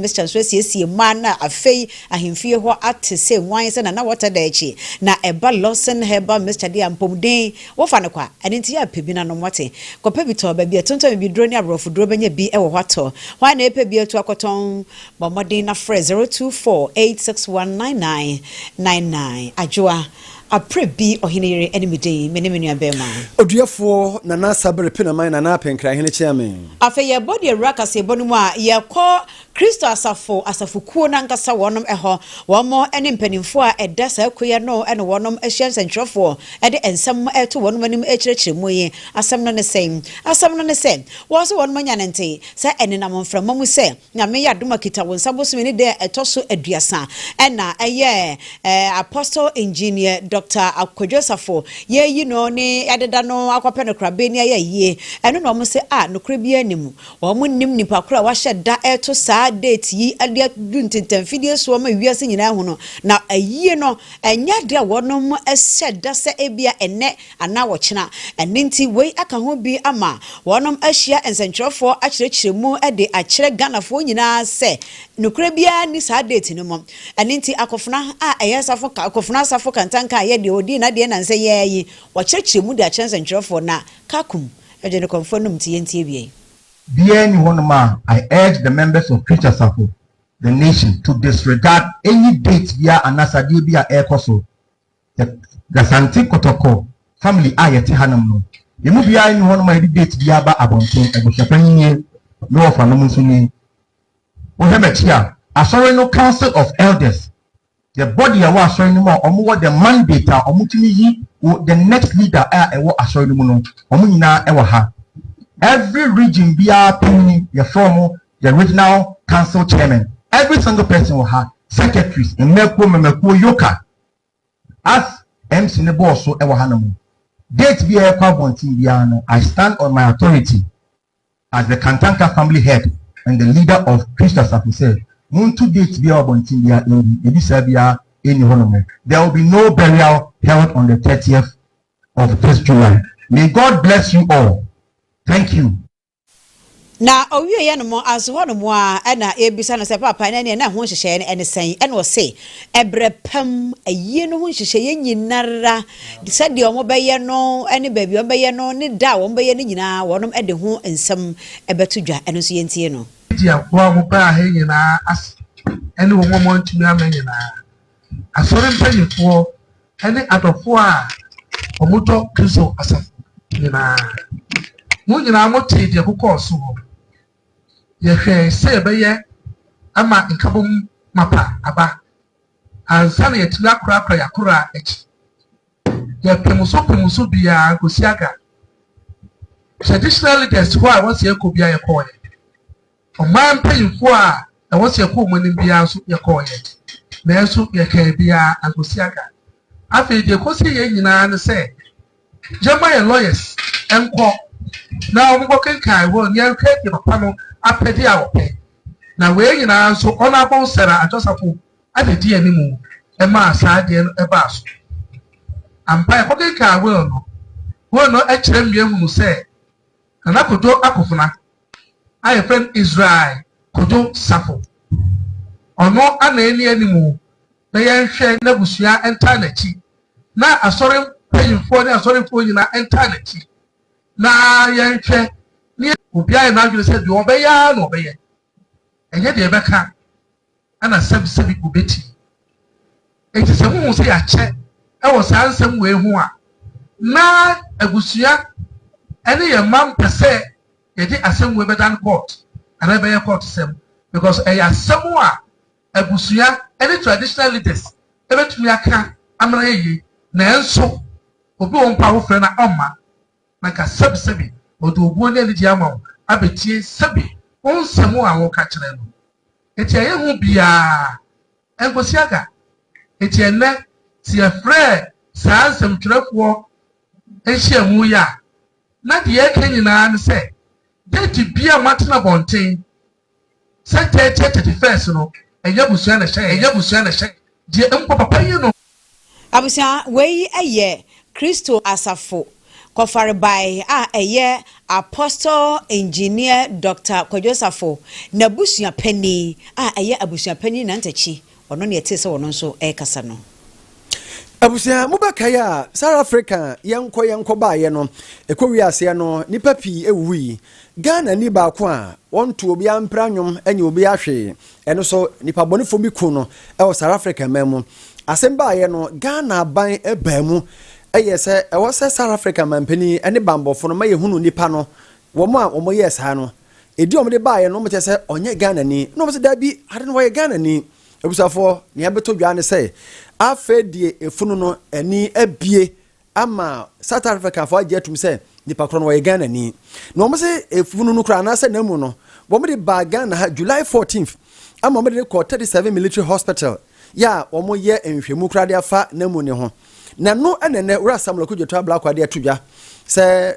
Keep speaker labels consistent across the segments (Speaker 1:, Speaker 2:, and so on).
Speaker 1: Mister nso asiesie mmaa no a afei ahemfie hɔ ate sɛ nguan sɛ Nana Wɔtadaakyi na ɛba Lawson Herbal Mixture de a mpomden wofa no kwa. Ɛno nti yɛ pɛ bi na nom. Wate? Kɔpɛ bi tɔ. Baabi a ɛtontɔn bibiduro ne aborɔfoduro bɛnya bi wɔ hɔ atɔ. Hwan na ɛpɛ bi atu akɔtɔn? Bɔ mmɔden na frɛ zero two four eight six one nine nine nine nine. Adwoa, Aperɛ bi ɔhene yere ne me dii, me ne me nuabarima. Oduafoɔ Nana Sabere Penaman Nana Apenkrahene Kyeame. Afei yɛbɔ deɛ Awura Kaseɛbɔ no mu a yɛkɔ Kristo Asafo asafokuo no ankasa wɔnom hɔ. Wɔnom ne mpaninfoɔ a ɛda saa kuo yi ano na wɔnom hyɛ nsɛnkyerɛfoɔ de nsɛm to wɔnom anim rekyerɛkyerɛ mu yi. Asɛm no ne sɛn? Asɛm no ne sɛ, wɔse wɔnom anya no nte sɛ ɛnenam mframa mu sɛ Nyame yɛ adom akita wo nsa bosome ne da a ɛtɔ so aduasa ɛna ɛyɛ eh, Apostle Engineer Doctor Akwadwo Osafo yɛyi no ne yɛadeda no akɔpɛ no korabɛ ni ayɛ ayie ɛno na wɔn se ah nokorɛ biara nni mu wɔn nnim nipa korɔ a wahyɛ da reto saa date yi de adu ntentanfidie soɔ ma wiase nyinaa hunu na ayie no ɛnyɛ adeɛ a wɔnom hyɛ da sɛ ebia ɛnɛ anaa wɔkyena. Ɛno nti wei aka ho bi ama wɔnom ahyia nsɛntwerɛfoɔ akyerɛkyerɛ mu de akyerɛ Ghanafoɔ nyinaa sɛ nokorɛ biara nni saa date no mu. Ɛno nti Akofena a ɛyɛ asafo Akofena asafo kantanka a ɛyɛ deɛ ɔdii n'adeɛ nnansa yi ara yi wɔkyerɛkyerɛ mu de akyerɛ nsɛntwerɛfoɔ na Kakum de no kɔmfoɔ nom nti yɛntie wieɛ. Biara nni hɔnom a I urge the members of Twitch Asafo, the nation, to disregard any date biara anaa adeɛ biara a ɛrekɔ so. Asante Kɔtɔkɔ family a yɛte hanom no, yɛn mu biara nni hɔnom a yɛde date biara ba abɔnten. Abusuapanyin nie, me wɔfanom nso ni. Wohwɛ m'akyi a, Asɔre no Council of Elders, the body a ɛwɔ Asɔre no mu a wɔwɔ the mandate a wɔtumi yi wo the next leader a ɛwɔ Asɔre no mu no, wɔn nyinaa wɔ ha. Every region biara panyin, yɛfrɛ wɔn the regional council chairman. Every single person wɔ ha, secretaries, mmakuo, mmamakuo, yoka. As MC no bɔɔ so wɔ ha no mu, date biara ɛkɔ abɔnten biara no, I stand on my authority as the Kantanka family head and the leader of Christ Asafo sɛ monto date biara wɔ abɔnten biara ɛngu, biribi saa biara ɛnni hɔ nom. There will be no burial held on the 30th of this July. May God bless you all. Thank you. Na ɔwieeɛ nom nso hɔ nom ara na yɛbisa no sɛ, Paapa, na ɛnneɛ na ɛho nhyehyɛeɛ no ne sɛn? Ɛna ɔse, Ɛberɛ pa mu ayie no ho nhyehyɛeɛ nyina ara, sɛdeɛ wɔbɛyɛ no ne baabi a wɔbɛyɛ no ne da a wɔbɛyɛ no nyina ara, wɔnom de ho nsɛm bɛto dwa. Ɛno nso yɛntie no. Gye aboa a wɔbaa ha nyina ara ase ne wɔn a wɔantumi amma nyina ara. Asɔre mpaninfoɔ ne adɔfoɔ a wɔdɔ Kristo asafo nyinaa. Mo nyinaa motee deɛ ɛkokɔɔ so hɔ. Yɛhwɛe sɛ yɛbɛyɛ ama nkabom mapa aba ansa na yɛatumi akorakora yɛn akoraa akyi. Yɛpem so pem so biara kɔsi Aga Traditional Leaders hɔ a wɔn sɛ yɛkɔ biara yɛkɔeɛ. Ɔman mpanyimfo a na wɔhyɛ kuw mu anim biara nso, yɛkɔɔeɛ, nanso yɛkaa biara ankɔsi aga. Afei deɛ ɛkɔsii yɛn nyinaa ne sɛ yɛmma yɛn lawyers nkɔ na wɔnkɔkenkan hɔ na yɛnhwɛ deɛ papa no apɛdeɛ a ɔpɛ. Na wei nyinaa nso, Honourable Sarah Adjosafo na ɛdii anim maa saa adeɛ no baa so. Ampa yɛkɔkenkan will no, will no kyerɛ mmea hunu sɛ Nana Kojo akofena a yɛfrɛ no Israel Kojo Safo. Ɔno ana ɛni animu na yɛnhwɛ n'abusua ntaa n'akyi na Asɔre mpanyimfoɔ ne Asɔrefoɔ nyinaa ntaa n'akyi na yɛnhwɛ ne Obiara yɛ n'adwene sɛ deɛ ɔbɛyɛ ara na ɔbɛyɛ. Ɛnyɛ deɛ ɛbɛka ana sɛbisɛbi obeti. Enti sɛ mohu sɛ yɛakyɛ wɔ saa nsɛm wei ho a, na abusua ne yɛn mma mpɛ sɛ yɛde asɛm wei bɛdan court anaa ɛbɛyɛ court sɛm because ɛyɛ asɛm a abusua ne traditional leaders ɛbɛtumi aka amena yɛyie nanso obi wɔ mpo a wofrɛ na ɔmma na ka sɛbisɛbi ɔde obuo ne anigyeɛ ama wo abɛtie sɛbi wo nsɛm a woreka kyerɛ no. Enti ɛyɛ ho biara ɛnkɔsi aga. Enti ɛnnɛ sɛ yɛfrɛ saa nsɛmtwerɛfoɔ nhyiamu yi a, na deɛ yɛreka nyinaa ne sɛ, date biara a moatena abɔnten Sɛ kyɛɛ kyɛɛ kyɛte fɛs no, ɛnyɛ abusua na ɛhyɛ yɛn, deɛ mpo papa yi no. Abusua, wei yɛ Kristo Asafo Kɔfarebae a ɛyɛ Apostle Engineer Doctor Kwadwo Osafo n'abusuapanin a ɛyɛ abusuapanin nantakyi Ɔno na yɛtee sɛ ɔno nso rekasa no. Abusua, mobɛkae a South Africa yɛnkɔ yɛnkɔ baeɛ no, ɛkɔwie aseɛ no nnipa pii wuwui. Ghana ni baako a wɔnto obiara mpira nnwom nyɛ obiara hwee, ɛno nso nnipa bɔnefoɔ bi kum no wɔ South Africa man mu. Asɛm baeɛ no Ghana aban baa mu yɛɛ sɛ ɛwɔ sɛ South Africa manpanin ne banbɔfoɔ no ma yɛhunu nnipa no, wɔn a wɔyɛɛ saa no Ɛdi a wɔde baeɛ no wɔkyɛ sɛ ɔnyɛ Ghanani na wɔsɛ daabi ade no ɔyɛ Ghanani. Abusuafoɔ nea ɛbɛtɔ dwa ne sɛ afei deɛ efunu no ani abie ama South Africafoɔ agye atum sɛ nipa korɔ no ɔyɛ Ghanani. Na wɔn sɛ efunu no koraa anaasɛ n'amu no wɔde baa Ghana ha July 14th ama wɔde no kɔ 37 Military Hospital yɛ a wɔyɛ nhwehwɛmu koraa de afa n'amu ne ho. Na no ɛna ɛnɛ Wura Samuel Okudzeto Ablakwa de ato dwa sɛ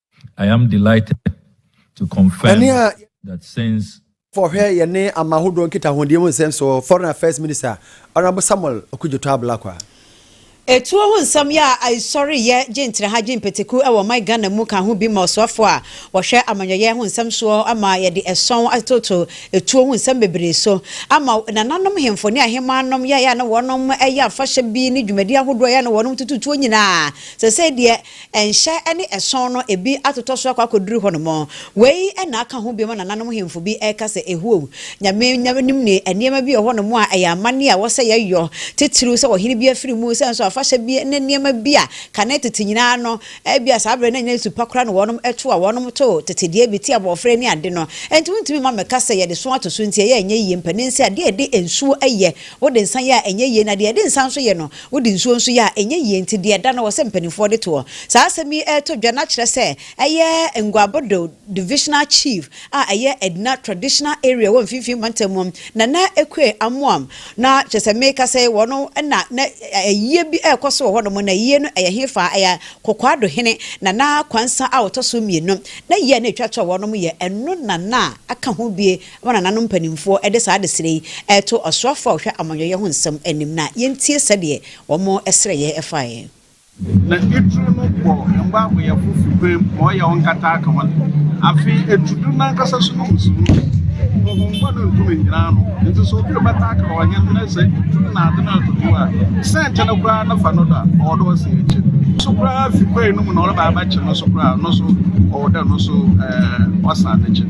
Speaker 1: I am delighted to confirm that since fɔhwɛ yɛne ama ahodoɔ nkitahodie mu nsɛm so Foreign Affairs Minister Honourable Samuel Okudzeto Ablakwa. Etuo ho nsɛm yɛ a aesɔre yɛ gye ntraha gye mpataku wɔ ɔman Ghana mu ka ho bi ma ɔsoafoɔ a wɔhwɛ amanyɔyɛ ho nsɛm soɔ ama yɛde ɛsɔn atoto etuo ho nsɛm bebree so ama nananom hemfo ne ahemaa nom yɛ a na wɔnom yɛ afahyɛ bi ne dwumadie ahodoɔ yɛ a na wɔnom toto tuo nyinaa sɛsɛi deɛ Nhyɛ ne ɛsɔn no ebi atotɔ so akɔ akɔduru hɔnom. Wei na aka ho biom a nananom hemfo bi reka sɛ, Ehuo, Nyame na nim ne nneɛma bi wɔ hɔnom a ɛyɛ amanneɛ a ɛwɔ sɛ yɛyɔ, titiriw sɛ ɔhene bi afiri mu, sɛ nso afahyɛ bi ne nneɛma bi a kane tete nyinaa no, ebia saa bere no nyɛ su pa koraa na wɔnom to a wɔnom to tete deɛ bi te abɔɔfrɛ ne ade no. Enti wontumi mma mɛka sɛ yɛde so ato so nti ɛyɛ a ɛnyɛ yie. Mpanin sɛ adeɛ a yɛde nsuo yɛ. Wode nsa yɛ a ɛnyɛ yie na deɛ yɛde nsa nso yɛ no wode nsuo nso yɛ a ɛnyɛ yie nti deɛ ɛda no wɔ sɛ mpaninfoɔ de toɔ. Saa asɛm yi reto dwa na kyerɛ sɛ ɛyɛ Nguabodo Divisional Chief a ɛyɛ Edna Traditional Area ɛwɔ Mfimfini Mantam mu Nana Ekue Amoam na kyerɛ sɛ meka sɛ yi wɔn na na ayie bi rekɔ so wɔ hɔnom na ayie no ɛyɛ hefa ɛyɛ Kokoado Hene Nana Kwansa a ɔtɔ so mmienu na ayie a na ɛtwa toɔ wɔ hɔnom yɛ ɛno Nana aka ho bie Wɔn nananom mpanimfoɔ de saa adesrɛ yi reto ɔsoafoɔ a ɔhwɛ amanyɔyɛ ho nsɛm anim na yɛntie sɛdeɛ wɔn srɛyɛ faeɛ. Na etru no bɔ mba ɔyɛfo fi kwan mu ma ɔyɛ wo nkata ka hɔn. Afei etu dur nankasa so no mu si mu. Honhom bɔn no nntum nnyina ano, ntsi sɛ obi rebɛtaa aka ɔhen na sɛ edur na adze no roto do a, sɛnkye no koraa no fa no do a, ɔwɔ dɛ ɔsan ekyir so koraa fi kwan no mu na ɔreba abɛkye no so koraa no so ɔwɔ dɛ no so ɔsan ne kyen.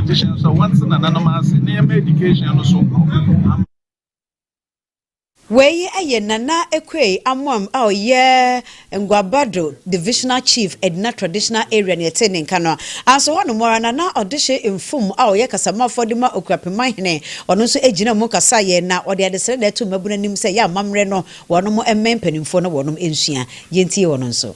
Speaker 1: Education so wɔnte nananom ase na yɛma education no so ama. Wei yɛ Nana Equay Amoam a ɔyɛ Nguabado Divisional Chief, Edna Traditional Area, nea ɛte ne nka no a. Nso hɔnom ara Nana Ɔdehye Mfum a ɔyɛ Kasamafo de ma Okurapeman hene, ɔno nso gyinaa mu kasaeɛ na ɔde adesrɛdɛɛ too mmabunu anim sɛ ɛyɛ amammerɛ no wɔnom mmɛn mpanimfoɔ na wɔnom nsua. Yɛntie ɔno nso.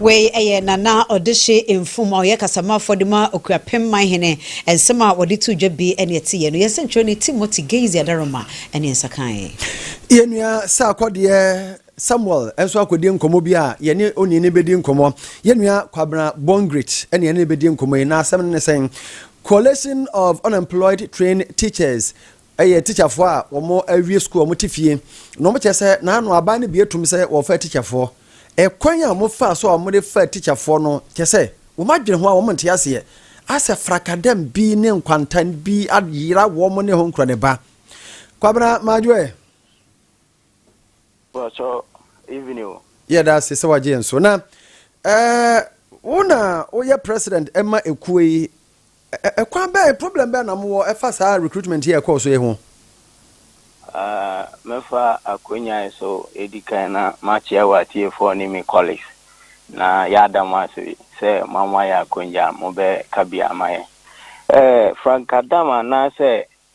Speaker 1: Wei yɛ Nana Ɔdehye Mfum a ɔyɛ kasamafo de ma Okuapem Manhene. Nsɛm a wɔde too dwa bi ne ɛteeɛ no. Yɛn sɛnkyerɛwni Timothy Gainsey Adaroma ne nsa kaeɛ. Yɛn nua Sarkodie Samuel nso akɔdi nkɔmmɔ bi a yɛne onii no bɛdi nkɔmmɔ. Yɛn nua Kwabena Bongrit ne yɛne no bɛdi nkɔmmɔ yi. Na asɛm no ne sɛn? Coalition of Unemployed Trained Teachers Ɛyɛ tikyafoɔ a wɔawie sukuu a wɔte fie na wɔkyerɛ sɛ naano aban no bi atum sɛ wɔrefaa tikyafoɔ. Ɛkwan a wɔfaa so a wɔde faa tikyafoɔ no kyerɛ sɛ wɔn adwene ho a wɔn nte aseɛ asɛ frakadam bi ne nkwantan bi ayera wɔn ne ho nkorɔ ne ba. Kwabena Madwoe. Pacho evening o. Yɛda ase sɛ wagye yɛn so. Na ɛɛ wo na woyɛ president ɛma ekuo yi ɛkwan bɛn problem bɛn na mowɔ ɛfa saa recruitment yi ɛkɔɔ so yi ho? Ah, mɛfa akonya yi so edi kan na makyea wɔ atiefoɔ ne me colleagues na yɛada mo ase sɛ moama yɛ akonya a mobɛka bi ama yɛn. Eh, Frank Adam anaasɛ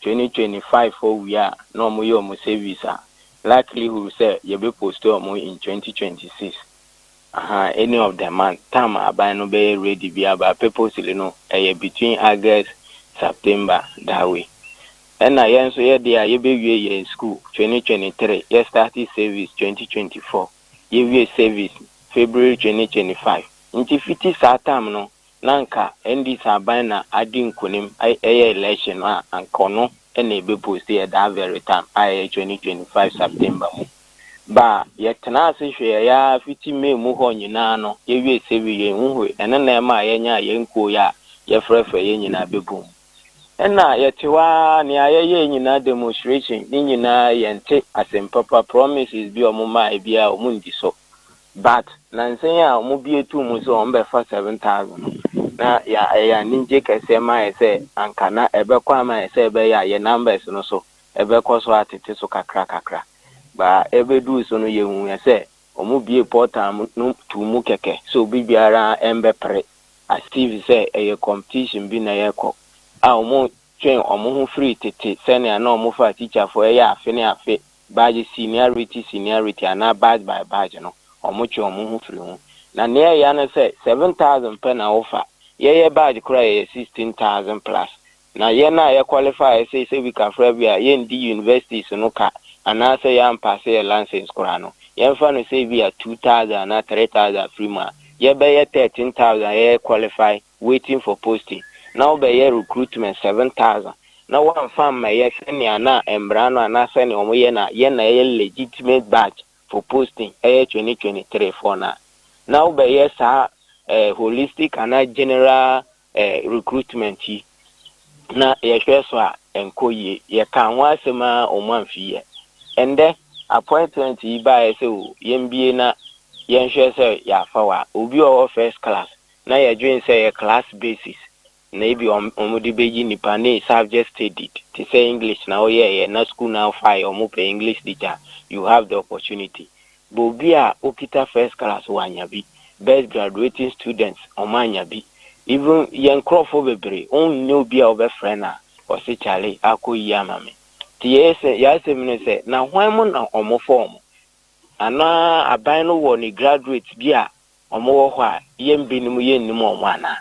Speaker 1: twenty twenty five hɔ wie a na ɔmo yɛ ɔmo service a likelihood sɛ yɛbɛ post ɔmo in twenty twenty six ahaa any of the month time a aban no bɛyɛ ready bia but purposely no ɛyɛ between August September that way ɛna yɛn nso yɛ deɛ a yɛbɛ wie yɛn school twenty twenty three yɛ start service twenty twenty four yɛ wie service February twenty twenty five nti fiti saa time no na anka NDC aban na adi nkunim ɛyɛ election no a anka ɔno na ebe post yɛ that very time a ɛyɛ twenty twenty five September mu ba a yɛtenaa ase hwɛɛ yɛ ara fiti May mu hɔ nyinaa no yɛ wiee sɛ wi yɛn hu hwee ɛno na ɛmaa yɛ nyaa yɛn kuo yɛ a yɛ frɛfrɛ yɛn nyinaa bɛ bum ɛna yɛ te hɔ ara nea yɛ yɛɛ nyinaa demonstration ne nyinaa yɛn te asem papa promises bi ɔmo maaɛ biara ɔmo ndi so But nansa yi a wɔbue too mu sɛ wɔbɛfa seven thousand no, na yɛ ɛyɛ anigye kɛseɛ ma yɛ sɛ anka na ɛbɛkɔ ama yɛ sɛ ɛbɛyɛ a yɛ numbers no so ɛbɛkɔ so atete so kakra kakra. But ɛbɛduu so no yɛhuiɛ sɛ wɔbuee portal no too mu kɛkɛ sɛ obi biara mbɛpere as if sɛ ɛyɛ competition bi na yɛrekɔ a wɔtwee wɔn ho firii tete sɛnea na wɔfa atikyafoɔ ɛyɛ afe ne afe badge seniority seniority anaa badge by badge no ɔmo twe ɔmo ho firi ho na nea ɛya ne sɛ seven thousand pɛ na wofa yɛyɛ badge koro a yɛyɛ sixteen thousand plus na yɛn a yɛ qualify sei sɛ bi kafra bi a yɛndi universities no ka anaa sɛ yɛampase yɛ license koraa no yɛnfa no sɛ bi a two thousand anaa three thousand firi mu a yɛbɛyɛ thirteen thousand a yɛyɛ qualify waiting for posting na wobɛyɛ recruitment seven thousand na woamfa ammɛyɛ sɛnea na mmara no anaa sɛnea wɔyɛ no a yɛ na ɛyɛ legitimate badge for posting ɛyɛ twenty twenty three foɔ no a, na wobɛyɛ saa eh, holistic anaa general eh, recruitment yi na yɛhwɛ so a ɛnkɔ yie yɛkaa ho asɛm a wɔn amfi yɛ ɛndɛ appointment yi baeɛ sɛ o yɛmbie na yɛnhwɛ sɛ yɛafa wa obi wɔ hɔ first class na yɛdwen sɛ ɛyɛ class basis na ebi a wɔn de bɛyi nnipa ne subject studied te sɛ English na woyɛeɛ na school no amfaeɛ wɔn pɛ English teacher you have the opportunity but obi a okita first class wanya bi best graduating students wɔn anya bi even yɛn nkorɔfoɔ bebree wo nyɛ obi a wobɛfrɛ no a ɔse kyale akɔ yie ama me nti yɛsɛ yɛasɛm no sɛ na hwan mu na wɔn fa wɔn anaa aban no wɔ ne graduates bi a Wɔwɔ hɔ a, yɛn binom yɛnnim wɔn anaa?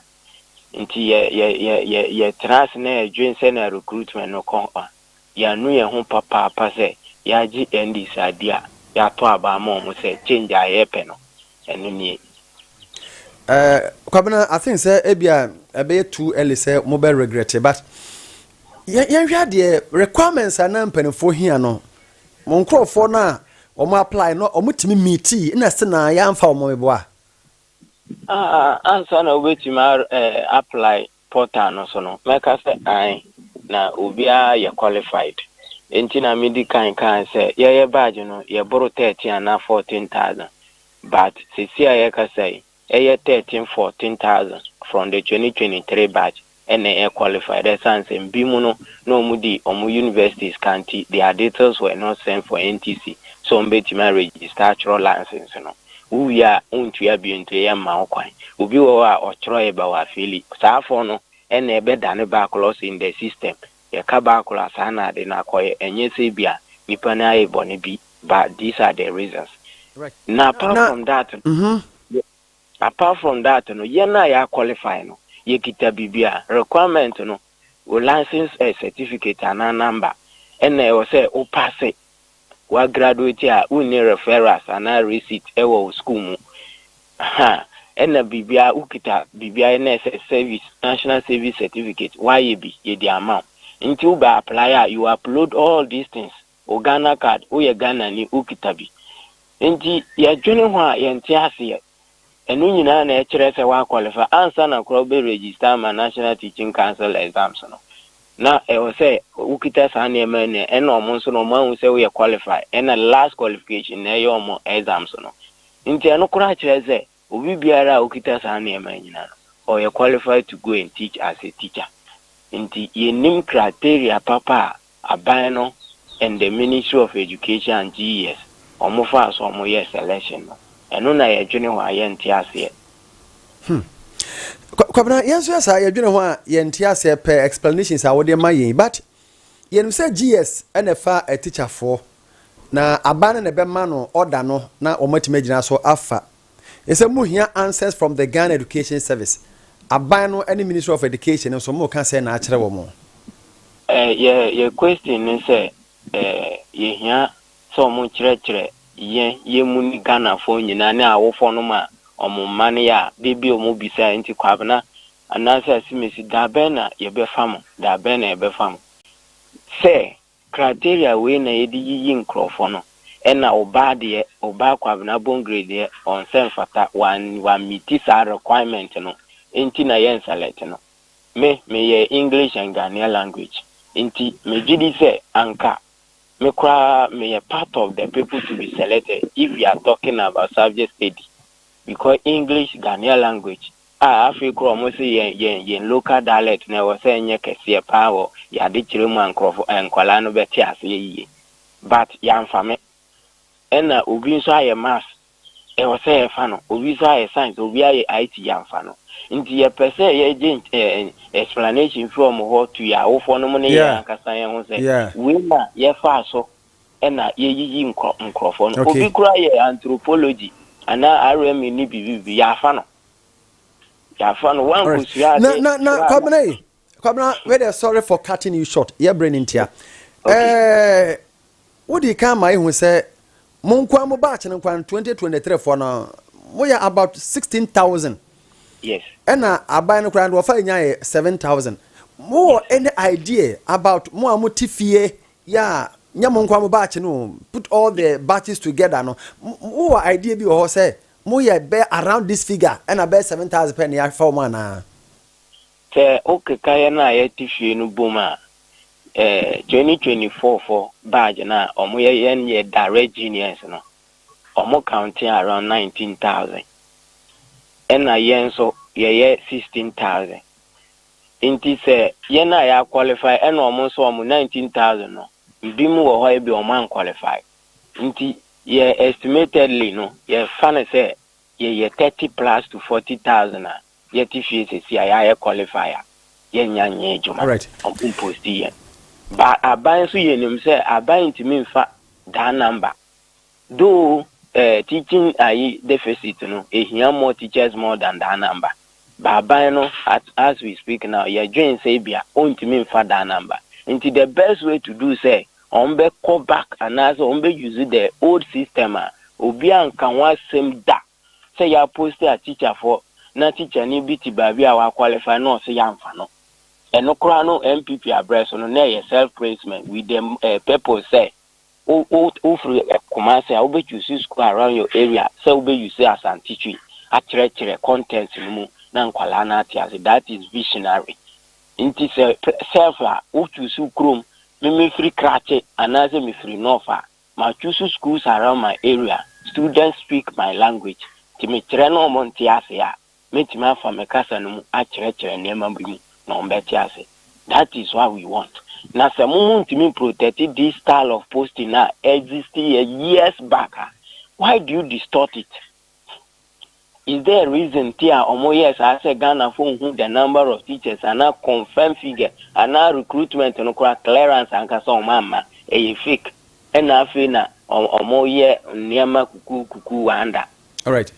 Speaker 1: Enti yɛ, yɛ, yɛ, yɛ, yɛtena ase na yɛdwen sɛnea recruitment no kɔ a, yɛanu yɛn ho papaapa sɛ yɛagye NDs adi a, yɛato aba ama wɔn sɛ change a yɛrepɛ no, ɛno nie. Eh, Kwabena, I think sɛ ebia ɛbɛyɛ too early sɛ mobɛ regrette, but yɛn, yɛnhwɛ adeɛ, requirements a na mpanimfoɔ hia no, Mo nkorɔfoɔ no a wɔn apply no wɔn tumi meetii ɛna ɛse na yɛ anfa wɔn meboa? Ah ansa na wobɛtumi a apply portal no so no mɛka sɛ ae na obiara yɛ qualified nti na me di kan kae sɛ yɛyɛ badge no yɛ boro 13 anaa 14 thousand but sesie a yɛkasa yi Ɛyɛ thirteen fourteen thousand from the twenty twenty three batch na ɛ qualify dɛ ɛsan sɛ mbi mu no na ɔmo di ɔmo university sika nti their details were not sent for NTC sɛ ɔmo bɛtumi a register atwerɛ license no wo wie a wo ntua bio nti yɛ mma wo kwan obi wɔ hɔ a ɔtwerɛɛ bɛ wɔ afeeli saa fɔɔ no ɛna ɛbɛ dane backlɔs in the system Yɛka ba koro a saa na ade no akɔyɛ, ɛnyɛ sɛ ebia nipa no ayɛ bɔne bi but these are the reasons. Na apart from that no, apart from that no, yɛn a yɛa qualify no yɛkita biribi a requirement no, wo license certificate anaa number ɛna ɛwɔ sɛ wo passe w'agraduate a wonni referrals anaa receipt wɔ wo sukuu mu ahaa ɛna biribiara wokita biribiara ɛna ɛsɛ service national service certificate w'ayɛ bi yɛdi ama wo nti wobɛ apply a you upload all these things wo Ghana card woyɛ Ghana ni wokita bi nti yɛdwene ho a yɛnte aseɛ Ɛno nyinaa na ɛkyerɛ sɛ woakwɔlifai. Ansa na kora wobɛregista ama National Teaching Council exams no, na ɛwɔ sɛ wokita saa nneɛma yi na ɛnna wɔn nso no wɔahu sɛ woyɛ qualify. Ɛnna last qualification na ɛyɛ wɔn exams no. Nti ɛno koraa kyerɛ sɛ obi biara a okita saa nneɛma yi nyinaa no, ɔyɛ qualified to go and teach as a teacher. Nti yɛnnim criteria papa a Aban no and the Ministry of Education and GES wɔn faa so wɔn yɛɛ selection no. Ɛno na yɛ dwene hɔ a yɛ nte aseɛ. Hmm. Kwabena, yɛn nso yɛ saa, yɛ dwene hɔ a yɛ nte aseɛ pɛ explanations a wode ma yɛn but yɛnim sɛ GES ɛna ɛfa a teacher foɔ na aban no na ɛbɛma no order no na wɔn atumi agyina so afa Yɛsɛ mo hia answers from the Ghana Education Service, aban no ɛne Ministry of Education no nso mo ka sɛɛ na akyerɛ wɔ mo. Yɛ yɛ question ne sɛ yɛ hia sɛ ɔmo kyerɛkyerɛ yɛn yɛ mu ne Ghana foɔ nyinaa ne awofɔ no ma ɔmo mma no yɛ a de bi ɔmo bisa nti Kwabena anaasɛ Asimesi da bɛn na yɛ bɛ fa mo da bɛn na yɛ bɛ fa mo sɛ Criteria wei na yɛde yiyi nkorɔfoɔ no, ɛna obaa deɛ, obaa Kwabena Bongre deɛ ɔnsɛ mfata, wan wan meeti saa requirement no nti na yɛ nselect no. Me, me yɛ English and Ghanaian language, nti me gyedi sɛ anka me koraa me yɛ part of the people to be selected if we are talking about subject study, because English, Ghanaian language A Afei kora ɔmo se yɛn yɛn yɛn local dialect no ɛwɔ sɛ ɛnyɛ kɛseɛ paa wɔ yɛn adekyerɛ mu a nkorɔfo ɛɛ nkwadaa no bɛte aseɛ yie. But yɛamfa me. Ɛna obi nso ayɛ maths ɛwɔ sɛ yɛfa no, obi nso ayɛ science, obi ayɛ IT yɛamfa no. Nti yɛpɛ sɛ yɛgye nky ɛɛ ɛn explanation firi ɔmo hɔ to yɛn awofoɔ no mo ne yɛn Yeah, ankasa yɛn ho sɛ yeah. wei na yɛfaa so ɛna yɛyiyi nkorɔ nkorɔfoɔ no. Okay. Obi koraa yɛ anthropology anaa RME ne biribi biribi yɛafa no. Yàfa no wọn kò sira ade. Na na na Kwabena yi Kwabena wei de sorry for cutting you short yɛ brɛ ne ntia. Ɛɛ wodi kan ma ehu sɛ mo nkwa mo batch no nkwa twenty twenty three fɔ no mo yɛ about sixteen thousand. Yes. Ɛna aban no koraa no wɔfa enya yɛ seven thousand. Mo wɔ any idea about mo a mo ti fie yɛ a nyɛ mo nkwa mo batch no put all the batches together no mo wɔ idea bi wɔ hɔ sɛ Mo yɛ bɛ around this figure ɛna bɛyɛ seven thousand pɛ na yɛafa wɔn anaa? Sɛ wo keka yɛn a yɛte fie no bom a, eh, twenty twenty four fɔ badge no a ɔmo yɛ yɛn yɛ direct juniors no, ɔmo counte around nineteen thousand. Ɛna yɛn nso yɛyɛ sixteen thousand. Nti sɛ yɛn a yɛ a qualify ɛna ɔmo nso ɔmo nineteen thousand no, ebi mo wɔ hɔ a ebia ɔmo an qualify. Nti yɛ estimatedly no yɛfa no sɛ yɛyɛ thirty plus to forty thousand a yɛte fie sɛsi a yɛayɛ qualify a yɛnnya nyɛ adwuma, ɔmo mposti yɛn. But aban nso yɛnim sɛ aban ntumi mfa that number though eh, teaching ayi deficit no ehia more teachers more than that number. Baaban no at as we speak now yɛdwen sɛ ebia ɔntumi nfa daa number nti the best way to do sɛ wɔn bɛ kɔ back anaasɛ wɔn bɛ use the old system a obi anka ho asɛm da sɛ yɛ aposti a teacher foɔ na teacher ni bi te baabi a wa qualify na ɔse yɛanfa no ɛno koraa no NPP abrɛ so no na ɛyɛ self placement with the eh, purpose sɛ wo wo wo firi Kumasi a wo bɛ choose school around your area sɛ wo bɛ use Asante Twi akyerɛkyerɛ content no mu na nkwadaa no ate ase that is visionary nti sɛ self a wo choose wo kurom me me firi Krachi anaasɛ me firi North a ma choose schools around my area students speak my language nti me kyerɛ na wɔn nte ase a Mɛtumi afa me kasa no mu akyerɛkyerɛ nneɛma bi mu na wɔbɛte ase. That is what we want. Na sɛ mo mo ntumi protect this style of posting a exist yɛ years back a, why do you distort it? Is there a reason nti a wɔn yɛɛ saa sɛ Ghana foɔ nhu the number of teachers anaa confirm figure anaa recruitment no koraa clearance ankasa wɔn amma, ɛyɛ fake ɛna afei na wɔn yɛ nneɛma kukuu kukuu wonder. Alright.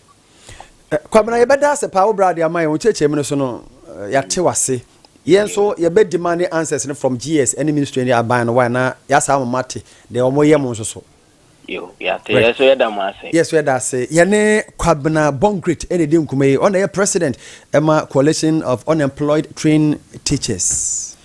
Speaker 1: Eh, Kwabena, yɛbɛda ase paa wo brade ama yɛn wo kyerɛkyerɛmu no so no eh, yɛate wase. Yɛn nso yɛbɛ demand answers no from GS ɛne ministry ne aban no why na yɛasa ama mate deɛ wɔn yɛ mo nso so. Yo, yɛate Right. yɛ so yɛda mo ase. Yes, yɛda ase. Yɛne Kwabena Born Great ɛna ɛdi nkuma yi. Ɔna yɛ president ɛma Coalition of Unemployed Trained Teachers.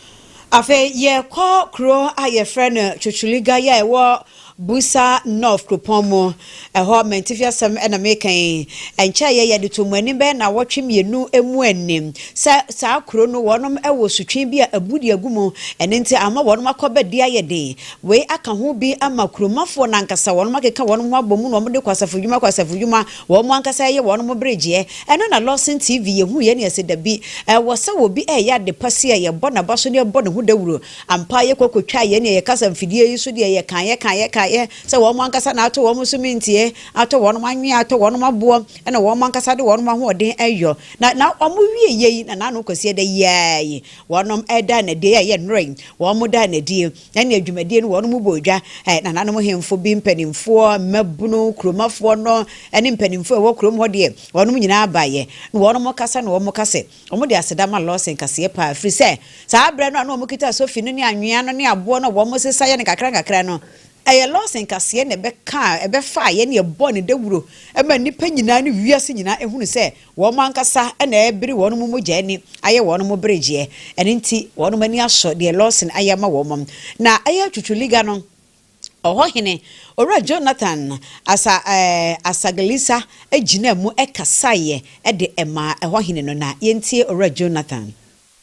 Speaker 1: Afei yɛkɔ kuro a yɛfrɛ no Chuchuliga yɛ ɛwɔ Busa North kuropɔn mu. Ɛhɔ mantifi asɛm na meka yi. Ɛnkyɛeɛ yɛde too mo anim bɛyɛ nnawɔtwe mmienu mu ani sɛ saa kuro no wɔnom wɔ sutwe bi a abu de agu mu. Ɛno nti ama wɔnom akɔ ba di ayɛ den. Wei aka ho bi ama kuromafoɔ no ankasa. Wɔnom akeka wɔnom ho abɔ mu na wɔde kɔ asafodwuma kɔ asafodwuma. Wɔn ankasa ɛyɛ wɔn mo bere gyeɛ. Ɛno na Lawson TV yɛ hu yɛ ne ɛsɛ dabi. Ɛwɔ sɛ wɔ bi ɛyɛ ade pa si a yɛ bɔ na ba so ne yɛ bɔ ne ho dawuro. Ampa yɛ kɔ kɔ twaa yɛ ne yɛ kasa mfidie yi so deɛ yɛ kaa yɛ kaa yɛ kaa yɛ sɛ wɔn mo ankasa na atɔ wɔn mo so mintie, atɔ wɔn mo anwea, atɔ wɔn mo aboɔ ɛna wɔn mo ankasa de wɔn mo ahoɔden ɛyɔ. Na na wɔn mo wie yɛ yi na na ano kɔsi ɛdɛ yi ara yi wɔn mo ɛda no adie yɛ a yɛ nnora yi wɔn mo da no adie. Ɛnneɛ dwumadie no wɔnom bɔɔ dwa, ɛ, nananom hemfo bi mpanimfoɔ, mmabunu, kuromafoɔ no, ne mpanimfoɔ a ɛwɔ kurom hɔ deɛ, wɔnom nyinaa baeɛ. Na wɔnom kasa na wɔn ka sɛ, wɔn de aseda ma Lɔse nkaseɛ paa, ɛfiri sɛ saa berɛ no a na wɔn kita sofi no ne anwea no ne aboɔ no a wɔn sesa yɛ no nkakra nkakra no, ɛyɛ Lɔse nkaseɛ na ɛbɛkaa, ɛbɛfaaeɛ na ɛbɔɔ ne dawuro maa nnipa nyinaa ne wiase nyinaa hunu sɛ Wɔn ankasa na ɛrebere wɔn mogya ani ayɛ wɔn beregyeɛ. Ɛno nti wɔn ani asɔ deɛ Lawson ayɛ ama wɔn. Na ɛyɛ Twutwu Liga no ɔhɔhene, Owura Jonathan Asa eh, Asaglisa gyinaa mu kasaeɛ de maa ɛhɔhene no. Na yɛntie Owura Jonathan.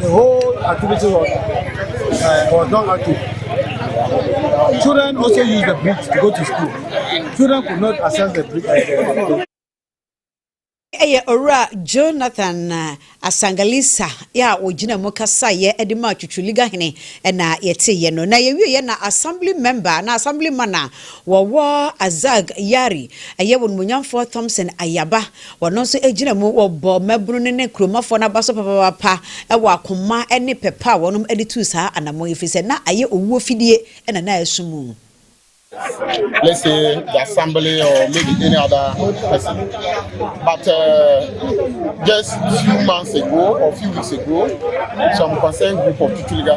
Speaker 1: The whole activity was, uh, was not active. Children also used the bridge to go to school. Children could not access the bridge. Uh, ɛyɛ owura jonathan uh, asangalisa yɛ a ɔgyina mu kasaeɛ de ma twitwiliga hene na yɛteeɛ no na yɛwieɛ na assembly member na assembly man a wɔwɔ azag yari ɛyɛ wɔn munyamfoɔ thompson ayaba Wɔno nso gyina mu wɔ bɔ mmabunu no ne kuromafoɔ no aba so papapapa wɔ akoma ne pɛ pa a wɔnom de tuu saa anamɔn yi ɛfiri sɛ na ayɛ owuo fidie na na ɛso mu. let's say the assembly or maybe any other person. But uh, just few months ago or few weeks ago, some concerned group of Tutuliga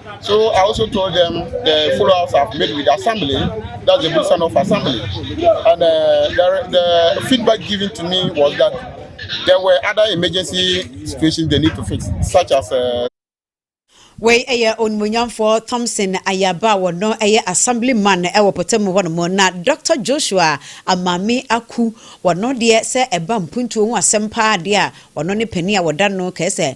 Speaker 1: So I also told them the follow-ups I've made with assembly, that's the business of assembly. And uh, the, the feedback given to me was that there were other emergency situations they need to fix, such as uh, wei ɛyɛ onimonyamfoɔ thompson ayaba a wɔno ɛyɛ assembly man ɛwɔ pɔtam hɔ nom na dr joshua amame aku wɔno deɛ sɛ ɛba mpuntuo ho asɛm paa deɛ a wɔno ne panin a wɔda no kɛɛ sɛ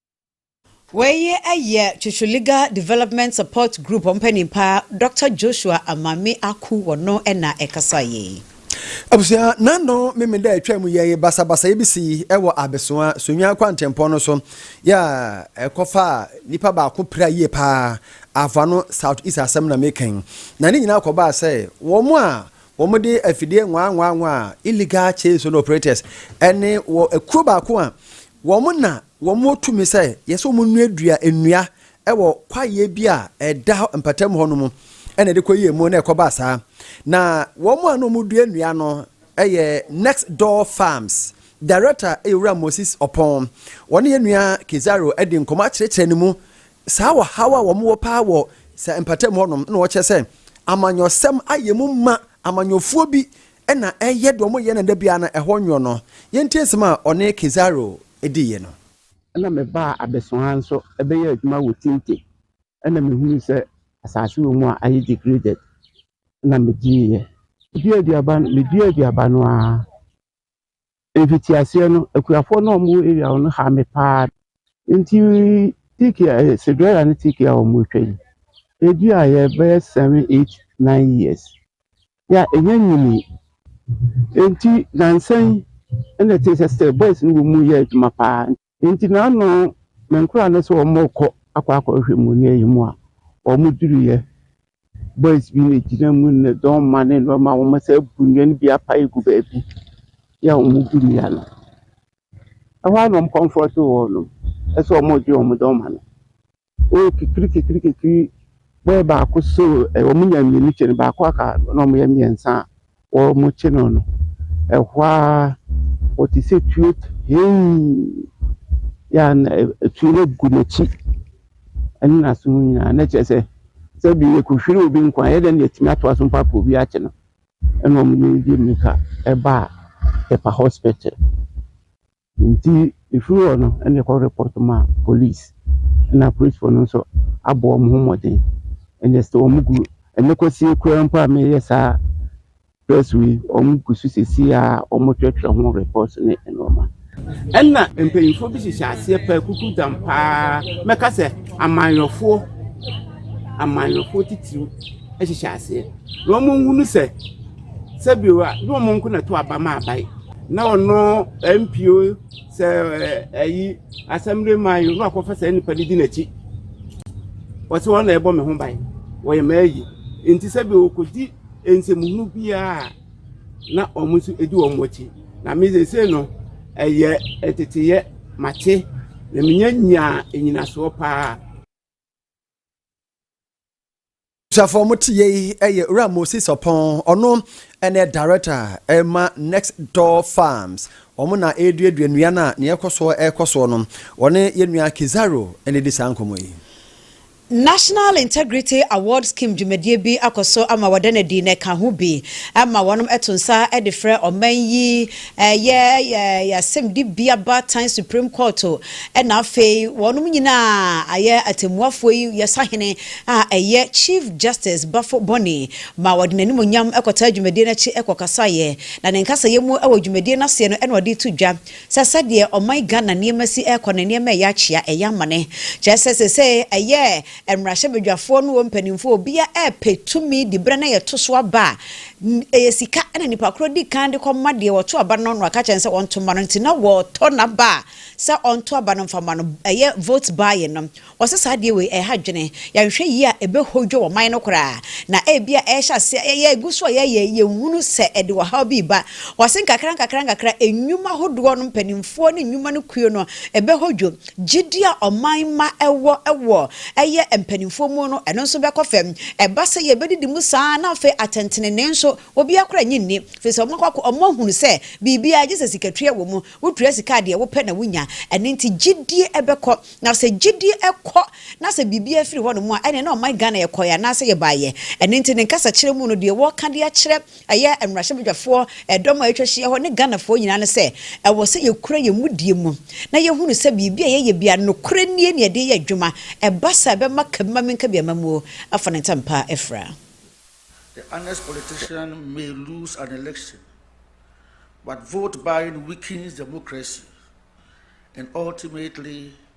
Speaker 1: Wei yɛ Twetwe Legal Development Support Group wɔn panin pa Dɔkta Joshua Amame Aku wɔno na ɛkasaeɛ yi. Abusua, nano memeda atwa mu yɛye basabasayɛ bi si wɔ Abesoa, Sonwaa kwantempɔn no so, yɛ a ɛkɔfa nipa baako pira yie paa, Afa no South East asɛm na mekɛn. Na ne nyinaa kɔbaa sɛ, wɔn a wɔn de afidie nwaa nwaa nwaa, illegal chain zone operators, ɛne wɔ kuro baako a Wɔn na wɔwɔ tumi sɛ yɛsɛ wɔn nnuadua nnua wɔ kwaeɛ bi a ɛda hɔ mpatamu hɔ no mu, ɛna ɛde kɔ yie mu na ɛkɔ baa saa. Na wɔn a na wɔn dua nnua no yɛ Next Door Farms Director yɛ Owura Moses Ɔpɔn. Wɔne yɛn nua Kidzaro adi nkɔmmɔ akyerɛkyerɛ ne mu saa ɔhaw a wɔn wɔ paa wɔ saa mpatamu hɔ nom, ɛna ɔkyerɛ sɛ amanyɔsɛm ayɛ mu ma amanyɔfoɔ bi Nna ɛyɛ dɛ wɔyɛ no da biara na ɛhɔ nwo no. Yɛntie nsɛm a ɔne Kizaru diiɛ no. Nna mebaa Abɛso ha nso bɛyɛɛ adwuma wɔ Tinte. Nna mehunuu sɛ asase wɔ mu a ayɛ degraded. Nna medieɛ. Meduaa aduaba no, meduaa aduaba no ara Mfitiaseɛ no, akuafoɔ no a wɔwɔ area hɔ no haa me paa. Nti tiki a ɛyɛ Cinderella ne tiki a wɔretwa yi, ɛduaeɛ bɛyɛ seven, eight, nine years. Yɛ a ɛnya nyinii. Nti nnansa yi na ɛtee sɛ still boys no wɔ mu yɛ adwuma paa. Enti na ano me nkoraa no sɛ wɔrekɔ akɔ akɔhwehwɛ mu ne ɛyɛ mu a wɔn duru yɛ boys bi na egyina mu ne dɔn mma ne nnoɔma wɔn nsa abu nnua no bi apae gu baabi yɛ a wɔn gu nnua no ɛhɔ a na wɔn kɔnfrɔte wɔn no ɛsɛ wɔn gye wɔn dɔn mma no Oh kekri kekri kekri boy baako so ɛ wɔn nya mmienu kyɛ no baako aka na wɔn yɛ mmiɛnsa a wɔrekye no no ɛhɔ ara wɔte sɛ tuo heii yɛ a na tuo no gu n'akyi ɛne n'aso mu nyinaa na kyerɛ sɛ sɛbi yɛkɔhwiri obi nko a yɛ dɛ na yɛtumi atoa so mpo akɔ obi akye no ɛna wɔn de mmirika ɛba a ɛpa hospital. Ntsi efir hɔ no nna yɛkɔ report ma police na aporisfo no so abɔ hɔn ho mbɔdzen ndɛ still hɔn gu ndɛ kɔsie koraa mpo a mereyɛ saa press wei hɔn gu so sesei a hɔn twerɛtwerɛ ho report ne nnoɔma. Nna mpanyinfoɔ bi hyehyɛ aseɛ paa kukudzam paa mɛka sɛ amanyɔfoɔ amanyɔfoɔ titiriw hyehyɛ aseɛ na hɔn nnhunu sɛ. sɛ bi a ne wɔn nko na ɛto aba ma aban na ɔno mp o sɛ ɛyi asɛmdwe man yi na wakɔfa saa nipa no di n'akyi wɔsɛ wɔn na ɛbɔ me ho ban wɔyɛ mmaa yi nti sɛ bi wɔkɔdi nsɛmuhunu biara na wɔn nso di wɔn akyi na me sese no ɛyɛ ɛteteyɛ mate na menya nyaa nyinasoɔ paa. abusuafoɔ mo te yei ɛyɛ owura moses ɔpɔn ɔno ɛna director ɛma next door farms wɔn na ɛreduadua nnua no a nea ɛkɔ soɔ ɛrekɔ soɔ no wɔne yɛn nua kizaro ɛna ɛdi saa nkɔmɔ yi. National Integrity Award Scheme dwumadie bi akɔ so ama wɔda no adi na ɛka ho bi ma wɔnom to nsa de frɛ ɔman yi Ɛyɛ yɛasɛm de bi aba tan Supreme Court na afei wɔnom nyina a ayɛ atɛmmuafoɔ yi yɛ sahene a ɛyɛ Chief Justice Bafo Boni ma wɔde n'animuonyam kɔtaa dwumadie no akyi kɔkasaeɛ na ne nkasayɛ mu wɔ dwumadie no aseɛ no na ɔde reto dwa sɛ sɛdeɛ ɔman Ghana nneɛma si rekɔ no nneɛma ɛyɛ akyea ɛyɛ amane kyerɛ sɛ seesei ɛyɛ Mmarahyɛbadwafoɔ ne wɔn mpanimfoɔ obiara repɛ tumi de berɛ no a yɛto so aba a, ɛyɛ sika na nnipa korɔ di kan de kɔma deɛ ɔto aba no na waka kyerɛ no sɛ ɔnto mma no nti na wɔtɔ n'aba a sɛ ɔnto aba no mfa mma no, ɛyɛ vote buying no. Wɔse saa adeɛ wei ɛha dwene, yɛanhwɛ yie a ɛbɛhodwo ɔman no koraa na ebia ɛrehyɛ aseɛ ɛyɛ ɛgu so a yɛyɛ yɛnhunu sɛ ɛde ɔhaw bi reba. Wɔse nkakrankakra nkakra nnwuma hodoɔ no mpanimfoɔ ne nnwuma no kuo no ɛbɛhodwo. Gyidi a ɔman mma wɔ wɔ ɛyɛ mpanimfoɔ mu no, ɛno nso bɛkɔ fam. Ɛba sɛ yɛbɛdidi mu saa ara na afei atɛntenenee nso, obiara koraa nnye nni, ɛfiri sɛ wɔakɔ akɔ, wɔahunu sɛ biribiara gye sɛ sikatua wɔ mu, wotua sika a deɛ wopɛ na wonya. Ɛno nti gyidie bɛkɔ. Na sɛ gyidie kɔ na sɛ biribiara firi hɔnom a, ɛnneɛ na ɔman Ghana yɛkɔeɛ anaasɛ yɛbaeɛ. Ɛno nti ne nkasakyerɛ mu no, deɛ wɔreka de akyerɛ Ɛyɛ mmarahyɛbadwafoɔ dɔm a atwa hyia hɔ ne Ghanafoɔ nyinaa no sɛ, ɛwɔ sɛ yɛkura yɛn mudie mu na yɛhunu sɛ biribi a yɛyɛ biara nokorɛ nie na yɛde reyɛ adwuma, ɛba saa a ɛbɛma ka bi ma menka bi ama muo afa ne ntɛmpa afira. The honest politician may lose an election, but vote buying weakens democracy and ultimately.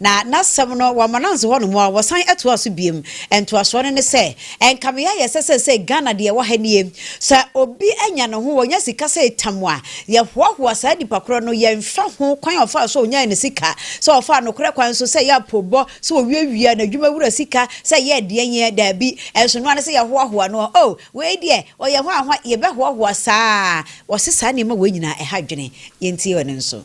Speaker 1: Na n'asɛm no, wɔama no anso hɔnom ara, wɔsan toaa so biom. Ntoasoɔ no ne sɛ, ɛnka me ayɛ sɛ seesei Ghana deɛ ɛwɔ ha nie, sɛ obi anya ne ho, ɔnya sika sɛ ɛtam a, yɛhoahoa saa nipa korɔ no, yɛnhwɛ ho kwan a ɔfaa so ɔnyae ne sika, sɛ ɔfaa nokorɛ kwan so, sɛ ɛyɛ apoobɔ, sɛ ɔwiawia n'adwuma wura sika, sɛ ɛyɛɛ deɛn ɛ, daabi, ɛnso ɛno ara ne sɛ yɛhoahoa no, oh, wei deɛ, ɔyɛ hwahwa, yɛbɛhoahoa saa ara, wɔse saa nneɛma wei nyinaa ɛha adwene, yɛntie ɔno nso.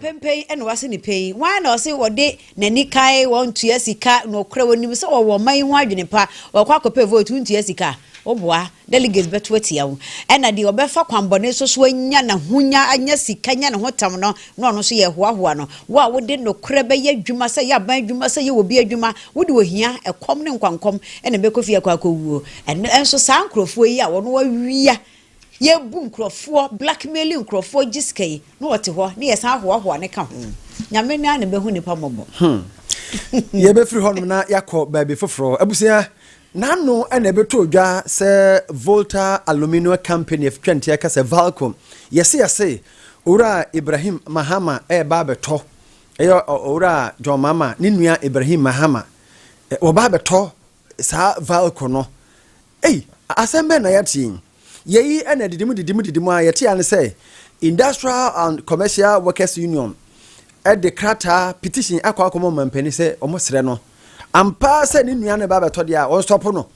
Speaker 1: Penpen na wɔase no pɛn. Hwan na ɔse wɔde n'ani kae wɔn tua sika? Nokorɛ wɔnim sɛ wɔwɔ ɔman yi ho adwene pa. Wɔkɔ akɔpɛ vote, wontua sika. Woboa, delegates bɛto atia wo. Ɛna deɛ ɔbɛfa kwanbɔne so so anya n'ahonya, anya sika, anya ne ho tam no, na ɔno nso yɛrehoahoa no. Wo a wode nokorɛ bɛyɛ adwuma, sɛ ɛyɛ aban adwuma, sɛ ɛyɛ obi adwuma, wode ohia, ɛkɔm ne nkwankɔm na ɛbɛkɔ fie akɔ akɔwuo. Ɛno nso saa nkorɔfoɔ yi a wɔn awia, Yɛ bu nkorɔfoɔ, blackmailing nkorɔfoɔ gye sika yi na ɔte hɔ na yɛ san hoahoa no ka ho. Nyame no ara na bɛhu nipa mmɔbɔ. Hmm. Yɛ bɛ firi hɔnom na yɛ akɔ baabi foforɔ. Abusua, n'ano na ɛbɛtɔ dwa sɛ Volta Aluminium Company of Twɛnteɛ ka sɛ Valco, yɛse yɛse, Owura Ibrahim Mahama ɛreba abɛtɔ, ɛyɛ Owura John Mahama ne nua Ibrahim Mahama, wɔba abɛtɔ saa Valco no Ei! Asɛm bɛn na yɛate yi? Yei na didim didim didim ara yɛte ara ne sɛ Industrial and Commercial Workers Union de krataa, petition, akɔ akɔma ɔmampanin sɛ wɔsrɛ no ampa ara sɛ ne nnuan no reba abɛtɔ deɛ a, wɔnsɔpo no.